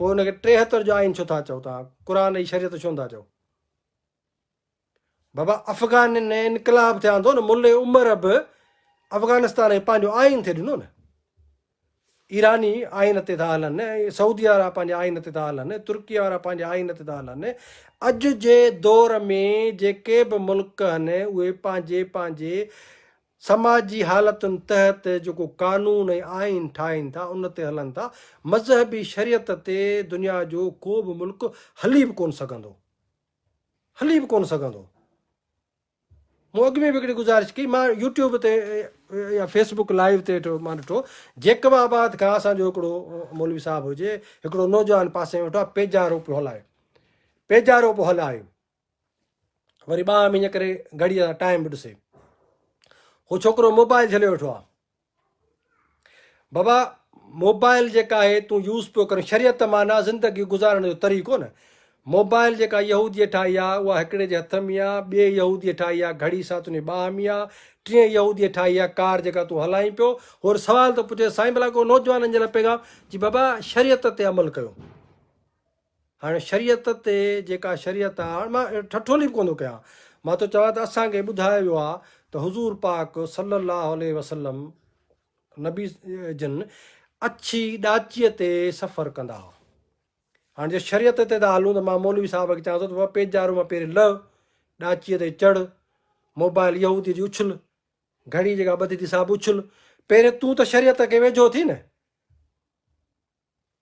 پوء ان کي ٽيهتر جو آئين ڇو ٿا چئو توهان قرآن ۽ شريعت ڇو نٿا چئو بابا افغان ۾ انقلاب ٿيا ٿو نه ملي عمر به افغانستان کي پنهنجو آئين ٿي ڏنو نه ايراني آئين تي ٿا هلن سعودي وارا پنهنجي آئين تي ٿا هلن ترڪي وارا پنهنجي آئين تي ٿا هلن اڄ جي دور ۾ جيڪي به ملڪ آهن اهي پنهنجي پنهنجي سماجي حالتن تحت جيڪو قانون ۽ آئين ٺاهين ٿا ان تي هلن ٿا، مذهبي شريعت تي دنيا جو ڪو به ملڪ هلي به ڪونه سگهندو، هلي به ڪونه سگهندو. مون اڳ ۾ به هڪڙي گذارش ڪئي، مان يوٽيوب تي يا فيس بوڪ لائيو تي مان ڏٺو جيڪب آباد کان اسان جو هڪڙو مولوي صاحب هجي هڪڙو نوجوان پاسي ۾ ويٺو آهي پيجارو پيو هلائي، پيجارو پيو هلائي. وري ٻانهن ۾ ائين ڪري گهڙيء سان ٽائيم به ڏسي. هو ڇوڪرو موبائل جهليو ويٺو آ. بابا موبائل جيڪا آهي تون يوز پيو ڪرين شريعت معنيٰ زندگي گذارڻ جو طريقو نه موبائل جيڪا يهوديء ٺاهي آ اها هڪڙي جي هٿ ۾ آ ٻئي يهوديء ٺاهي آ گهڙي سان تنهنجي ٻانهن ۾ آ ٽئين يهوديء ٺاهي آ ڪار جيڪا تون هلائين پيو هور سوال ٿو پڇي سائين ڀلا ڪو نوجوانن جي لاء پيغام جي بابا شريعت تي عمل ڪيو هاڻي شريعت تي جيڪا شريعت آ هاڻي مان ٺٺولي به ڪونه ٿو ڪيان مان ٿو چوان ته اسان کي ٻڌايو ويو آ ته حضور پاڪ صلي الله عليه وسلم نبي جن اڇي ڏاچيء تي سفر ڪندا هئا هاڻي جي شريعت تي ٿا هلون ته مان مولوي صاحب کي چوان ٿو ته پيجارو مان پهرين لهه ڏاچيء تي چڙ موبائل يهودي جي اڇل گهڙي جيڪا ٻڌي ٿي سا به اڇل پهرين تون ته شريعت کي ويجهو ٿي نه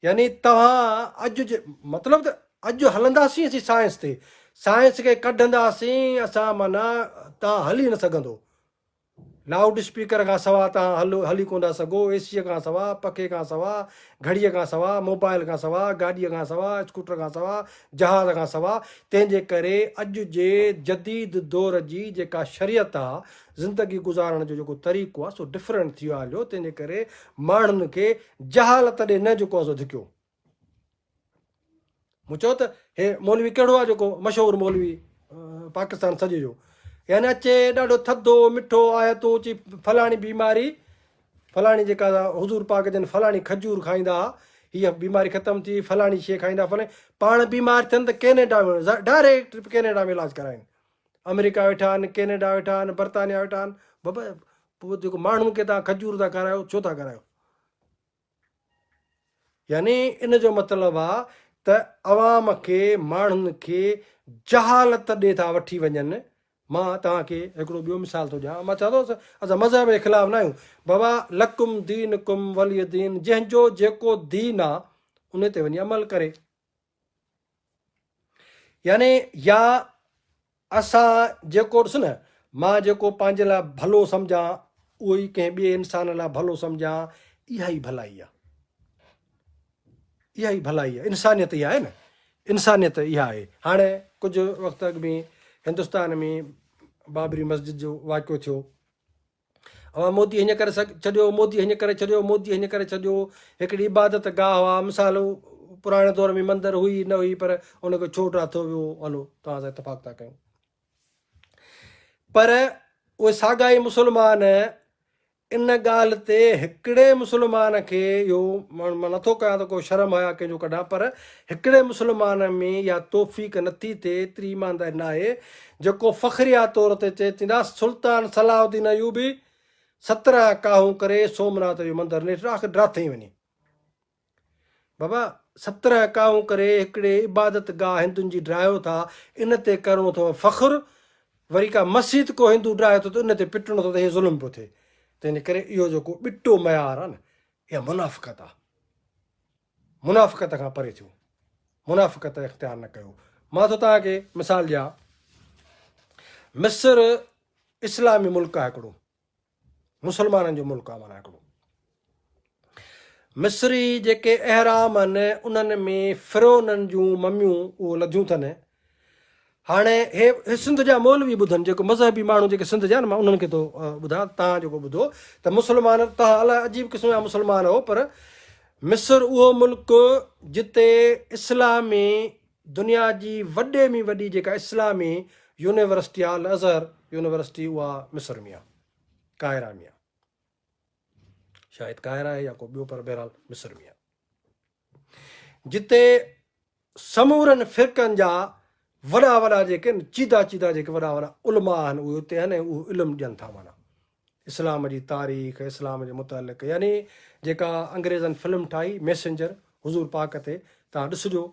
يعني توهان اڄ جي مطلب ته اڄ هلنداسين اسين سائنس تي سائنس کي ڪڍنداسين اسان معنيٰ تان هلي نه سگهندو لائوڊ اسپيڪر کان سوا تان هل هلي ڪون ٿا سگهو اي سي کان سوا پکي کان سوا گهڙيء کان سوا موبائل کان سوا گاڏيء کان سوا اسڪوٽر کان سوا جهاز کان سوا تنهن جي ڪري اڄ جي جديد دور جي جيڪا شريعت آهي زندگي گذارڻ جو جيڪو طريقو آ سو ڊفرنٽ ٿي ويو آ هليو تنهن جي ڪري ماڻهن کي جهالت ڏي نه جيڪو آ سو ڌڪيو مون چيو ته هي مولوي ڪهڙو آ جيڪو مشهور مولوي پاڪستان سڄي جو يعني اچي ڏاڍو ٿڌو مٺو آيتون چي فلاڻي بيماري فلاڻي جيڪا حضور پاڪ جن فلاڻي کجور کائيندا آ هي بيماري ختم ٿي فلاڻي شي کائيندا فلاڻي پاڻ بيمار ٿين ته ڪينيڊا ۾ ڊائريڪٽ ڪينيڊا ۾ علاج ڪرائين آمريڪا ويٺا آهن، ڪينيڊا ويٺا آهن، برطانيا ويٺا آهن، بابا پوء جيڪو ماڻهن کي توهان کجور ٿا کارايو ڇو ٿا کارايو؟ يعني ان جو مطلب آ ته عوام کي ماڻهن کي جهالت ڏي ٿا وٺي وڃن، مان توهان کي هڪڙو ٻيو مثال ٿو ڏيان، مان چوان ٿو اسان مذهب جي خلاف نه آهيون، بابا لڪم دينڪم ولي دين جنهن جو جيڪو دين آ انهي تي وڃي عمل ڪري. يعني يا اسان جيڪو ڏس نه مان جيڪو پنهنجي لاء ڀلو سمجهان اهو ئي ڪنهن ٻئي انسان لاء ڀلو سمجهان اها ئي ڀلائي آهي اها ئي ڀلائي آهي انسانيت اها آهي نه انسانيت اها آهي هاڻي ڪجهه وقت اڳ ۾ هندستان ۾ بابري مسجد جو واقعو ٿيو اوهان مودي هنج ڪري ڇڏيو، مودي هنج ڪري ڇڏيو، مودي هنج ڪري ڇڏيو. هڪڙي عبادت گاهه هئا، مثال پراڻي دور ۾ مندر هئي نه هئي پر ان کي ڇو ٽاٿو ويو هلو توهان سان اتفاق ٿا ڪيون. پر اهي ساڳا ئي مسلمان ان ڳالهه تي هڪڙي مسلمان کي اهو مان نٿو ڪيان ته ڪو شرم حيا ڪنهن جو ڪڍان پر هڪڙي مسلمان ۾ اها توفيق نٿي ٿئي ايتري ايمانداري ناهي جيڪو فخريه طور تي چئي چيندا سلطان صلاح الدين ايوبي سترهن ڪاهون ڪري سومناٿ جو مندر نيٺ آخر ڊاٿئي وڃي بابا سترهن ڪاهون ڪري هڪڙي عبادت گاهه هندن جي ڊاهيو ٿا ان تي ڪرڻو اٿو فخر وري ڪا مسجد ڪو هندو ڊاهي ٿو ته ان تي پٽڻو اٿو ته هي ظلم پيو ٿئي تنهنجي ڪري اهو جيڪو ٻٽو معيار آهي نه اها منافقت آهي منافقت کان پري ٿيو، منافقت اختيار نه ڪيو. مان ٿو توهان کي مثال ڏيان، مصر اسلامي ملڪ آهي هڪڙو، مسلمانن جو ملڪ آهي معنيٰ هڪڙو. مصري جيڪي اهرام آهن انهن ۾ فرعونن جون مميون اهو لڌيون اٿن هاڻي هي سنڌ جا مولوي ٻڌن جيڪو مذهبي ماڻهو جيڪي سنڌ جا آهن مان انهن کي ٿو ٻڌان تان جيڪو ٻڌو ته مسلمان تان الاء عجيب قسم جا مسلمان هو پر مصر اهو ملڪ جتي اسلامي دنيا جي وڏي ۾ وڏي جيڪا اسلامي يونيورسٽي آهي الازهر يونيورسٽي اها مصر ۾ آهي قاهره ۾ آهي شايد قاهره آهي يا ڪو ٻيو پر بهرحال مصر ۾ آهي جتي سمورن فرقن جا وڏا وڏا جيڪي چيدا چيدا جيڪي وڏا وڏا علماء آهن اهي اتي آهن ۽ اهو علم ڏين ٿا معنيٰ اسلام جي تاريخ اسلام جي متعلق يعني جيڪا انگريزن فلم ٺاهي ميسنجر حضور پاڪ تي تان ڏسجو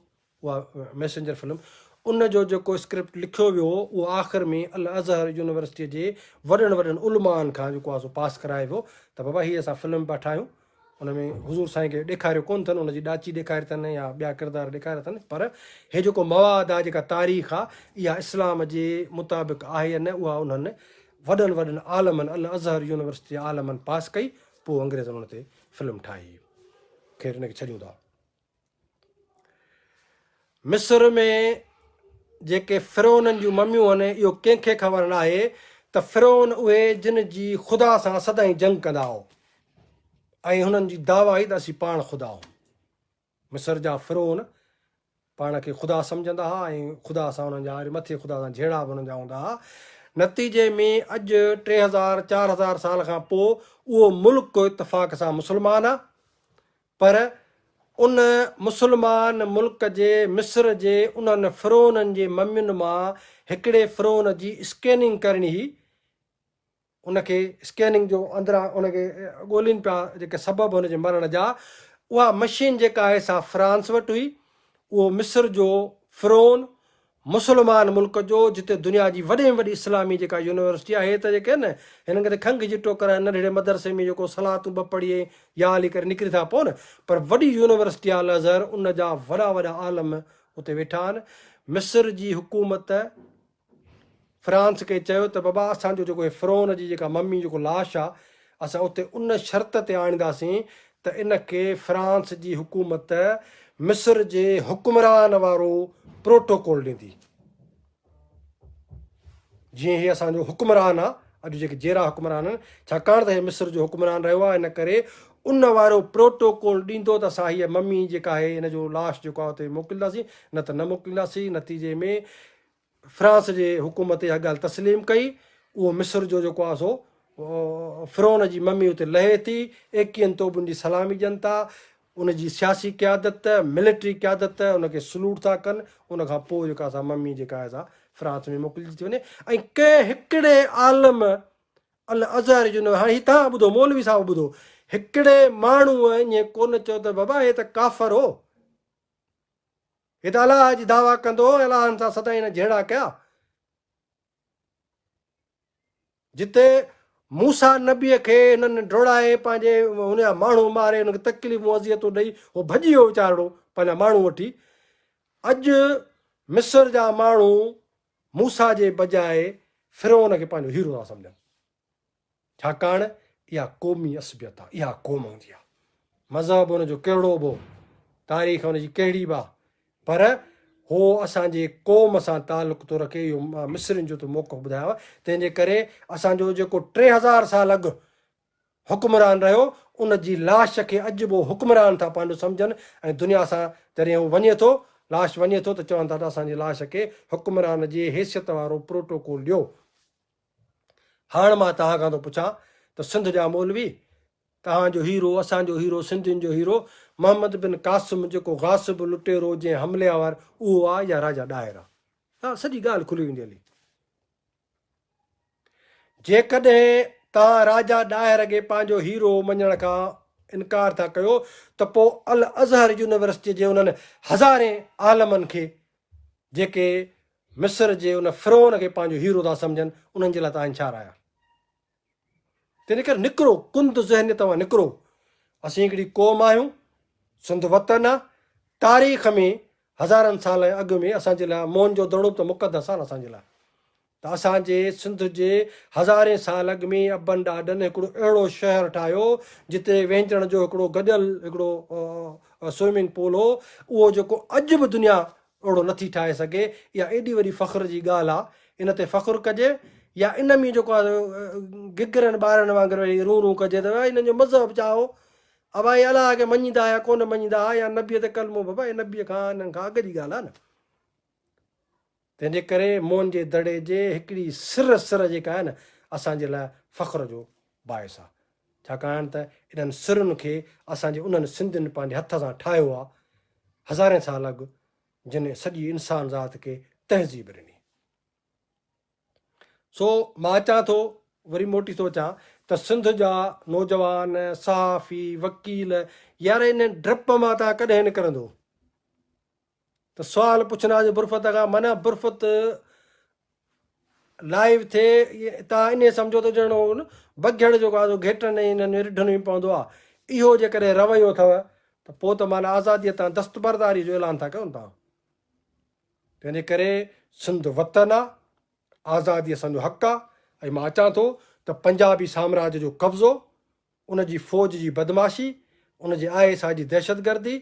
اها ميسنجر فلم ان جو جيڪو اسڪرپٽ لکيو ويو هو اهو آخر ۾ الازهر يونيورسٽيء جي وڏن وڏن علماءن کان جيڪو آهي سو پاس ڪرائي ويو ته بابا هي اسان فلم پيا ٺاهيون ان ۾ حضور سائين کي ڏيکاريو ڪونه اٿن ان جي ڏاچي ڏيکاري اٿن يا ٻيا ڪردار ڏيکاريا اٿن پر هي جيڪو مواد آهي جيڪا تاريخ آ اها اسلام جي مطابق آهي يا نه اها انهن وڏن وڏن عالمن الاظهر يونيورسٽي جي عالمن پاس ڪئي پوء انگريزن ان تي فلم ٺاهي خير ان کي ڇڏيون ٿا. مصر ۾ جيڪي فرعونن جون مميون هن اهو ڪنهن کي خبر ناهي ته فرعون اهي جن جي خدا سان سدائين جنگ ڪندا هو ۽ هنن جي دعويٰ هئي ته اسين پاڻ خدا هون مصر جا فرعون پاڻ کي خدا سمجهندا هئا ۽ خدا سان هنن جا مٿي خدا سان جهيڙا به هنن جا هوندا هئا نتيجي ۾ اڄ ٽي هزار چار هزار سال کان پوء اهو ملڪ اتفاق سان مسلمان آهي پر ان مسلمان ملڪ جي مصر جي انهن فرعونن جي ممين مان هڪڙي فرعون جي اسڪيننگ ڪرڻي هئي ان کي اسڪيننگ جو اندران ان کي ڳولين پيا جيڪي سبب هن جي مرڻ جا اها مشين جيڪا آهي سا فرانس وٽ هئي اهو مصر جو فرعون مسلمان ملڪ جو جتي دنيا جي وڏي ۾ وڏي اسلامي جيڪا يونيورسٽي آهي ته جيڪي نه هنن کي ته کنگهه جي ٽوڪر آهي ننڍڙي مدرسي ۾ جيڪو صلاتون ٻه پڙهي ۽ يا علي ڪري نڪري ٿا پون پر وڏي يونيورسٽي آهي الازهر ان جا وڏا وڏا عالم اتي ويٺا آهن مصر جي حڪومت فرانس کي چيو ته بابا اسان جو جيڪو هي فرعون جي جيڪا ممي جيڪو لاش آ اسان اتي ان شرط تي آڻينداسين ته ان کي فرانس جي حڪومت مصر جي حڪمران وارو پروٽوڪول ڏيندي جيئن هي اسان جو حڪمران آ اڄ جيڪي جيرا حڪمران آهن ڇاڪاڻ ته هي مصر جو حڪمران رهيو آ ان ڪري ان وارو پروٽوڪول ڏيندو ته اسان هيء ممي جيڪا آهي هن جو لاش جيڪو آ اتي موڪلينداسين نه ته نه موڪلينداسين نتيجي ۾ فرانس جي حڪومت اها ڳالهه تسليم ڪئي، اهو مصر جو جيڪو آهي سو فرعون جي ممي اتي لهي ٿي، ايڪيهن توبن جي سلامي ڏين ٿا، ان جي سياسي قيادت، ملٽري قيادت ان کي سلوٽ ٿا ڪن، ان کان پوء جيڪا سا ممي جيڪا آهي سا فرانس ۾ موڪلجي ٿي وڃي ۽ ڪنهن هڪڙي عالم الازهر جو نه هاڻي هي توهان ٻڌو مولوي صاحب ٻڌو هڪڙي ماڻهو ائين ڪونه چيو ته بابا هي ته ڪافر هو، هت الاهه جي دعويٰ ڪندو الاهن سان سدائين نه جهيڙا ڪيا. جتي موسيٰ نبيء کي هنن ڊوڙائي پنهنجي هن جا ماڻهو ماري هن کي تڪليفون اذيتون ڏئي هو ڀڄي ويو ويچارڙو پنهنجا ماڻهو وٺي. اڄ مصر جا ماڻهو موسيٰ جي بجاء فرعون کي پنهنجو هيرو ٿا سمجهن. ڇاڪاڻ اها قومي عصبيت آهي، اها قوم هوندي آهي. مذهب ان جو ڪهڙو به هو، تاريخ ان جي ڪهڙي به آهي، پر هو اسان جي قوم سان تعلق ٿو رکي، اهو مان مصرين جو ته موقف ٻڌايو، تنهن جي ڪري اسان جو جيڪو ٽي هزار سال اڳ حڪمران رهيو، ان جي لاش کي اڄ به حڪمران ٿا پنهنجو سمجهن ۽ دنيا سان جڏهن هو وڃي ٿو، لاش وڃي ٿو ته چون ٿا ته اسان جي لاش کي حڪمران جي حيثيت وارو پروٽوڪول ڏيو. هاڻ مان توهان کان ٿو پڇان ته سنڌ جا مولوي توهان جو هيرو اسان جو هيرو سنڌين جو هيرو محمد بن قاسم جيڪو غاصب لٽيرو جنهن حملي آور اهو آ يا راجا ڏاهر آ ها سڄي ڳالهه کلي ويندي هلي جيڪڏهن توهان راجا ڏاهر کي پنهنجو هيرو مڃڻ کان انڪار ٿا ڪيو ته پو الازهر يونيورسٽي جي انهن هزارين عالمن کي جيڪي مصر جي ان فرعون کي پنهنجو هيرو ٿا سمجهن، انهن جي لاء ته آهن ڇا رايا. تنهن ڪري نڪرو، ڪند ذهنيت مان نڪرو. اسين هڪڙي قوم آهيون، سنڌ وطن آ، تاريخ ۾ هزارن سالن اڳ ۾ اسان جي لاء موهن جو دڙو به ته مقدس آ نه اسان جي لاء. ته اسان جي سنڌ جي هزارين سال اڳ ۾ ابن ڏاڏن هڪڙو اهڙو شهر ٺاهيو جتي وهنجڻ جو هڪڙو گڏيل هڪڙو سوئمنگ پول هو اهو جيڪو اڄ به دنيا اهڙو نٿي ٺاهي سگهي اها ايڏي وڏي فخر جي ڳالهه آ ان تي فخر ڪجي يا ان ۾ جيڪو آ گگرن ٻارن وانگر ويهي رون رون ڪجي ته انهن جو مذهب ڇا هو ابا هي الله کي مڃيندا هيا ڪونه مڃيندا ها يا نبي تي ڪلمو بابا هي نبي کان انهن کان اڳ جي ڳالهه آ نه. تنهن جي ڪري موهن جي دڙي جي هڪڙي سر سر جيڪا آهي نه اسان جي لاء فخر جو باعث آهي ڇاڪاڻ ته انهن سرن کي اسان جي انهن سنڌين پنهنجي هٿ سان ٺاهيو آهي هزارين سال اڳ جن سڄي انسان ذات کي تهذيب ڏني. سو مان اچان ٿو وري موٽي ٿو اچان ته سنڌ جا نوجوان صحافي وڪيل يار انهن ڊپ مان توهان ڪڏهن نڪرندو. ته سوال پڇن آ جو برفت کان منع برفت لائيو ٿئي تان انهي سمجهو ته ڄڻ اهو بگهڙ جيڪو آ سو گهيٽن ۽ انهن ۾ رڍن ۾ پوندو آ اهو جيڪڏهن رويو اٿئو ته پو ته معنيٰ آزاديء تان دستبرداريء جو اعلان ٿا ڪيون تان تنهنجي ڪري سنڌ وطن آ آزادي اسان جو حق آ ۽ مان اچان ٿو ته پنجابي سامراج جو قبضو ان جي فوج جي بدمعاشي، ان جي آء ايس آء جي دهشتگردي،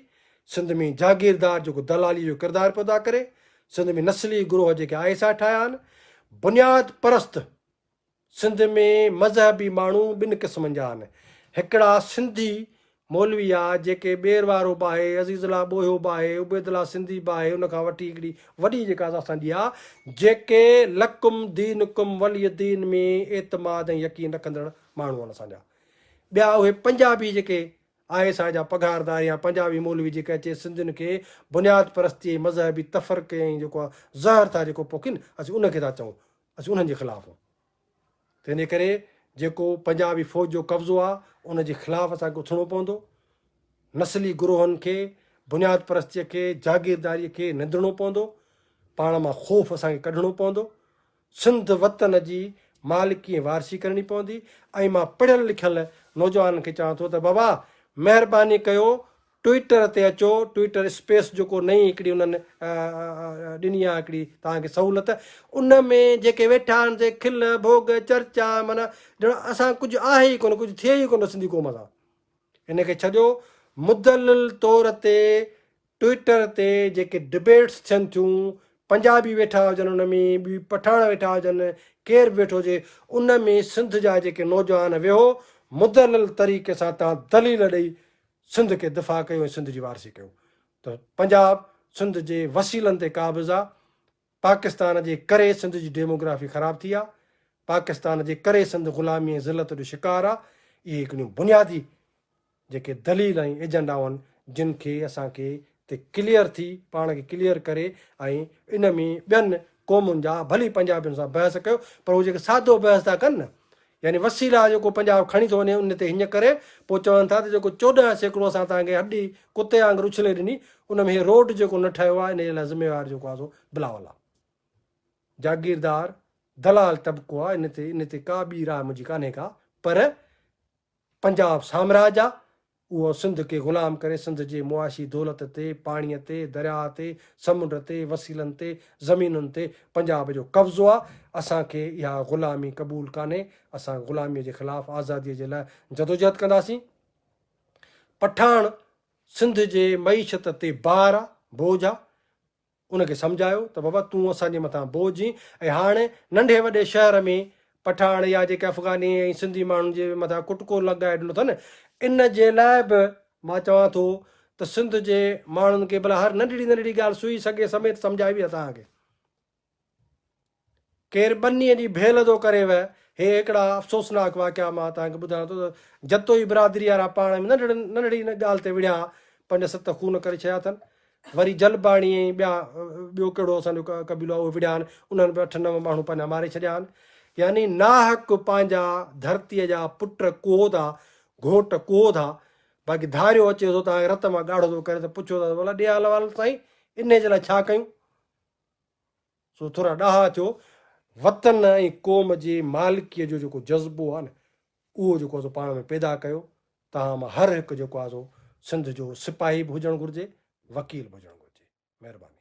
سنڌ ۾ جاگيردار جيڪو دلاليء جو ڪردار پيو ادا ڪري، سنڌ ۾ نسلي گروهه جيڪي آء ايس آء ٺاهيا آهن، بنياد پرست سنڌ ۾ مذهبي ماڻهو ٻن قسمن جا آهن، هڪڙا سنڌي مولوي آء جيڪي ٻير وارو به آهي، عزيز الله ٻوهيو به آهي، عبيد الله سنڌي به آهي، ان کان وٺي هڪڙي وڏي جيڪا اسان جي آهي، جيڪي لڪم دينڪم ولي دين ۾ اعتماد ۽ يقين رکندڙ ماڻهو آهن اسان جا ٻيا اهي پنجابي جيڪي آء ايس آء جا پگهاردار يا پنجابي مولوي جيڪي اچي سنڌين کي بنياد پرستي ۽ مذهبي تفرقي ۽ جيڪو آ زهر ٿا جيڪو پوکين اسين ان کي ٿا چئون اسين انهن جي خلاف آهيون تنهنجي ڪري جيڪو پنجابي فوج جو قبضو آ ان جي خلاف اسان کي اٿڻو پوندو نسلي گروهن کي بنياد پرستي کي جاگيرداري کي نندڻو پوندو پاڻ مان خوف اسان کي ڪڍڻو پوندو سنڌ وطن جي مالڪي ۽ وارثي ڪرڻي پوندي ۽ مان پڙهيل لکيل نوجوانن کي چوان ٿو ته بابا مهرباني ڪيو ٽوئيٽر تي اچو ٽوئيٽر اسپيس جيڪو نئين هڪڙي انهن ڏني آهي هڪڙي توهان کي سهولت ان ۾ جيڪي ويٺا آهن سي کل ڀوڳ چرچا معنيٰ ڄڻ اسان ڪجهه آهي ئي ڪونه ڪجهه ٿئي ئي ڪونه سنڌي قوم سان ان کي ڇڏيو مدلل طور تي ٽوئيٽر تي جيڪي ڊبيٽس ٿين ٿيون پنجابي ويٺا هجن ان ۾ ٻي پٺاڻ ويٺا هجن ڪير به ويٺو هجي ان ۾ سنڌ جا جيڪي نوجوان ويهو مدلل طريقي سان تان دليل ڏئي سنڌ کي دفاع ڪيو ۽ سنڌ جي وارثي ڪيو ته پنجاب سنڌ جي وسيلن تي قابض آ پاڪستان جي ڪري سنڌ جي ڊيموگرافي خراب ٿي آ، پاڪستان جي ڪري سنڌ غلامي ۽ ذلت جو شڪار آ، اهي هڪڙيون بنيادي جيڪي دليل ۽ ايجنڊائون آهن جن کي اسان کي تي ڪليئر ٿي پاڻ کي ڪليئر ڪري ۽ ان ۾ ٻين قومن جا ڀلي پنجابين سان بحث ڪيو پر هو جيڪي سادو بحث ٿا ڪن نه يعني وسيلا جيڪو پنجاب کڻي ٿو وڃي ان تي هڃ ڪري پوء چون ٿا ته جيڪو چوڏهن سيڪڙو اسان توهان کي هڏي ڪتي وانگر اڇلي ڏني ان ۾ هي روڊ جيڪو نه ٺهيو آهي ان جي لاء ذميوار جيڪو آهي سو بلاول آهي جاگيردار دلال طبقو آهي ان تي ان تي ڪا ٻي راء منهنجي ڪانهي ڪا پر پنجاب سامراج آهي اهو سنڌ کي غلام ڪري سنڌ جي معاشي دولت تي، پاڻيء تي، درياء تي، سمنڊ تي، وسيلن تي، زمينن تي پنجاب جو قبضو آ، اسان کي اها غلامي قبول ڪانهي، اسان غلاميء جي خلاف آزاديء جي لاء جدوجهد ڪنداسين. پٺاڻ سنڌ جي معيشت تي بار آ، بوجھ آ. ان کي سمجهايو ته بابا تون اسان جي مٿان بوجهه هين ۽ هاڻ ننڍي وڏي شهر ۾ پٺاڻ يا جيڪي افغاني ۽ سنڌي ماڻهن جي مٿان ڪٽڪو لڳائي ڏنو اٿن ان جي لاء به مان چوان ٿو ته سنڌ جي ماڻهن کي ڀلا هر ننڍڙي ننڍڙي ڳالهه سوئي سڳي سميت سمجهائبي ته توهان کي ڪير ٻنيء جي ڀيل ٿو ڪريو. هي هڪڙا افسوسناڪ واقعا مان توهان کي ٻڌايان ٿو ته جتوئي برادريء وارا پاڻ ۾ ننڍڙي ان ڳالهه تي وڙهيا پنج ست خون ڪري ڇڏيا اٿن. وري جلباڻي ۽ ٻيا ٻيو ڪهڙو اسان جو قبيلو آهي اهي وڙهيا آهن، انهن به اٺ نو ماڻهو پنهنجا ماري ڇڏيا آهن. يعني ناحق پنهنجا ڌرتيء جا پٽ ڪوهو ٿا، گهوٽ ڪوهو ٿا، باقي ڌاريو اچي ٿو توهان کي رت مان ڳاڙهو ٿو ڪري ته پڇو ٿا ته ڀلا ڏيهال وال سائين انهيء جي لاء ڇا ڪيون؟ سو ٿورا ڏاها ٿيو وطن ۽ قوم جي مالڪيء جو جيڪو جذبو آهي نه اهو جيڪو آهي سو پاڻ ۾ پيدا ڪيو توهان مان هر هڪ جيڪو آهي سو سنڌ جو سپاهي به هجڻ گهرجي وڪيل به هجڻ گهرجي مهرباني.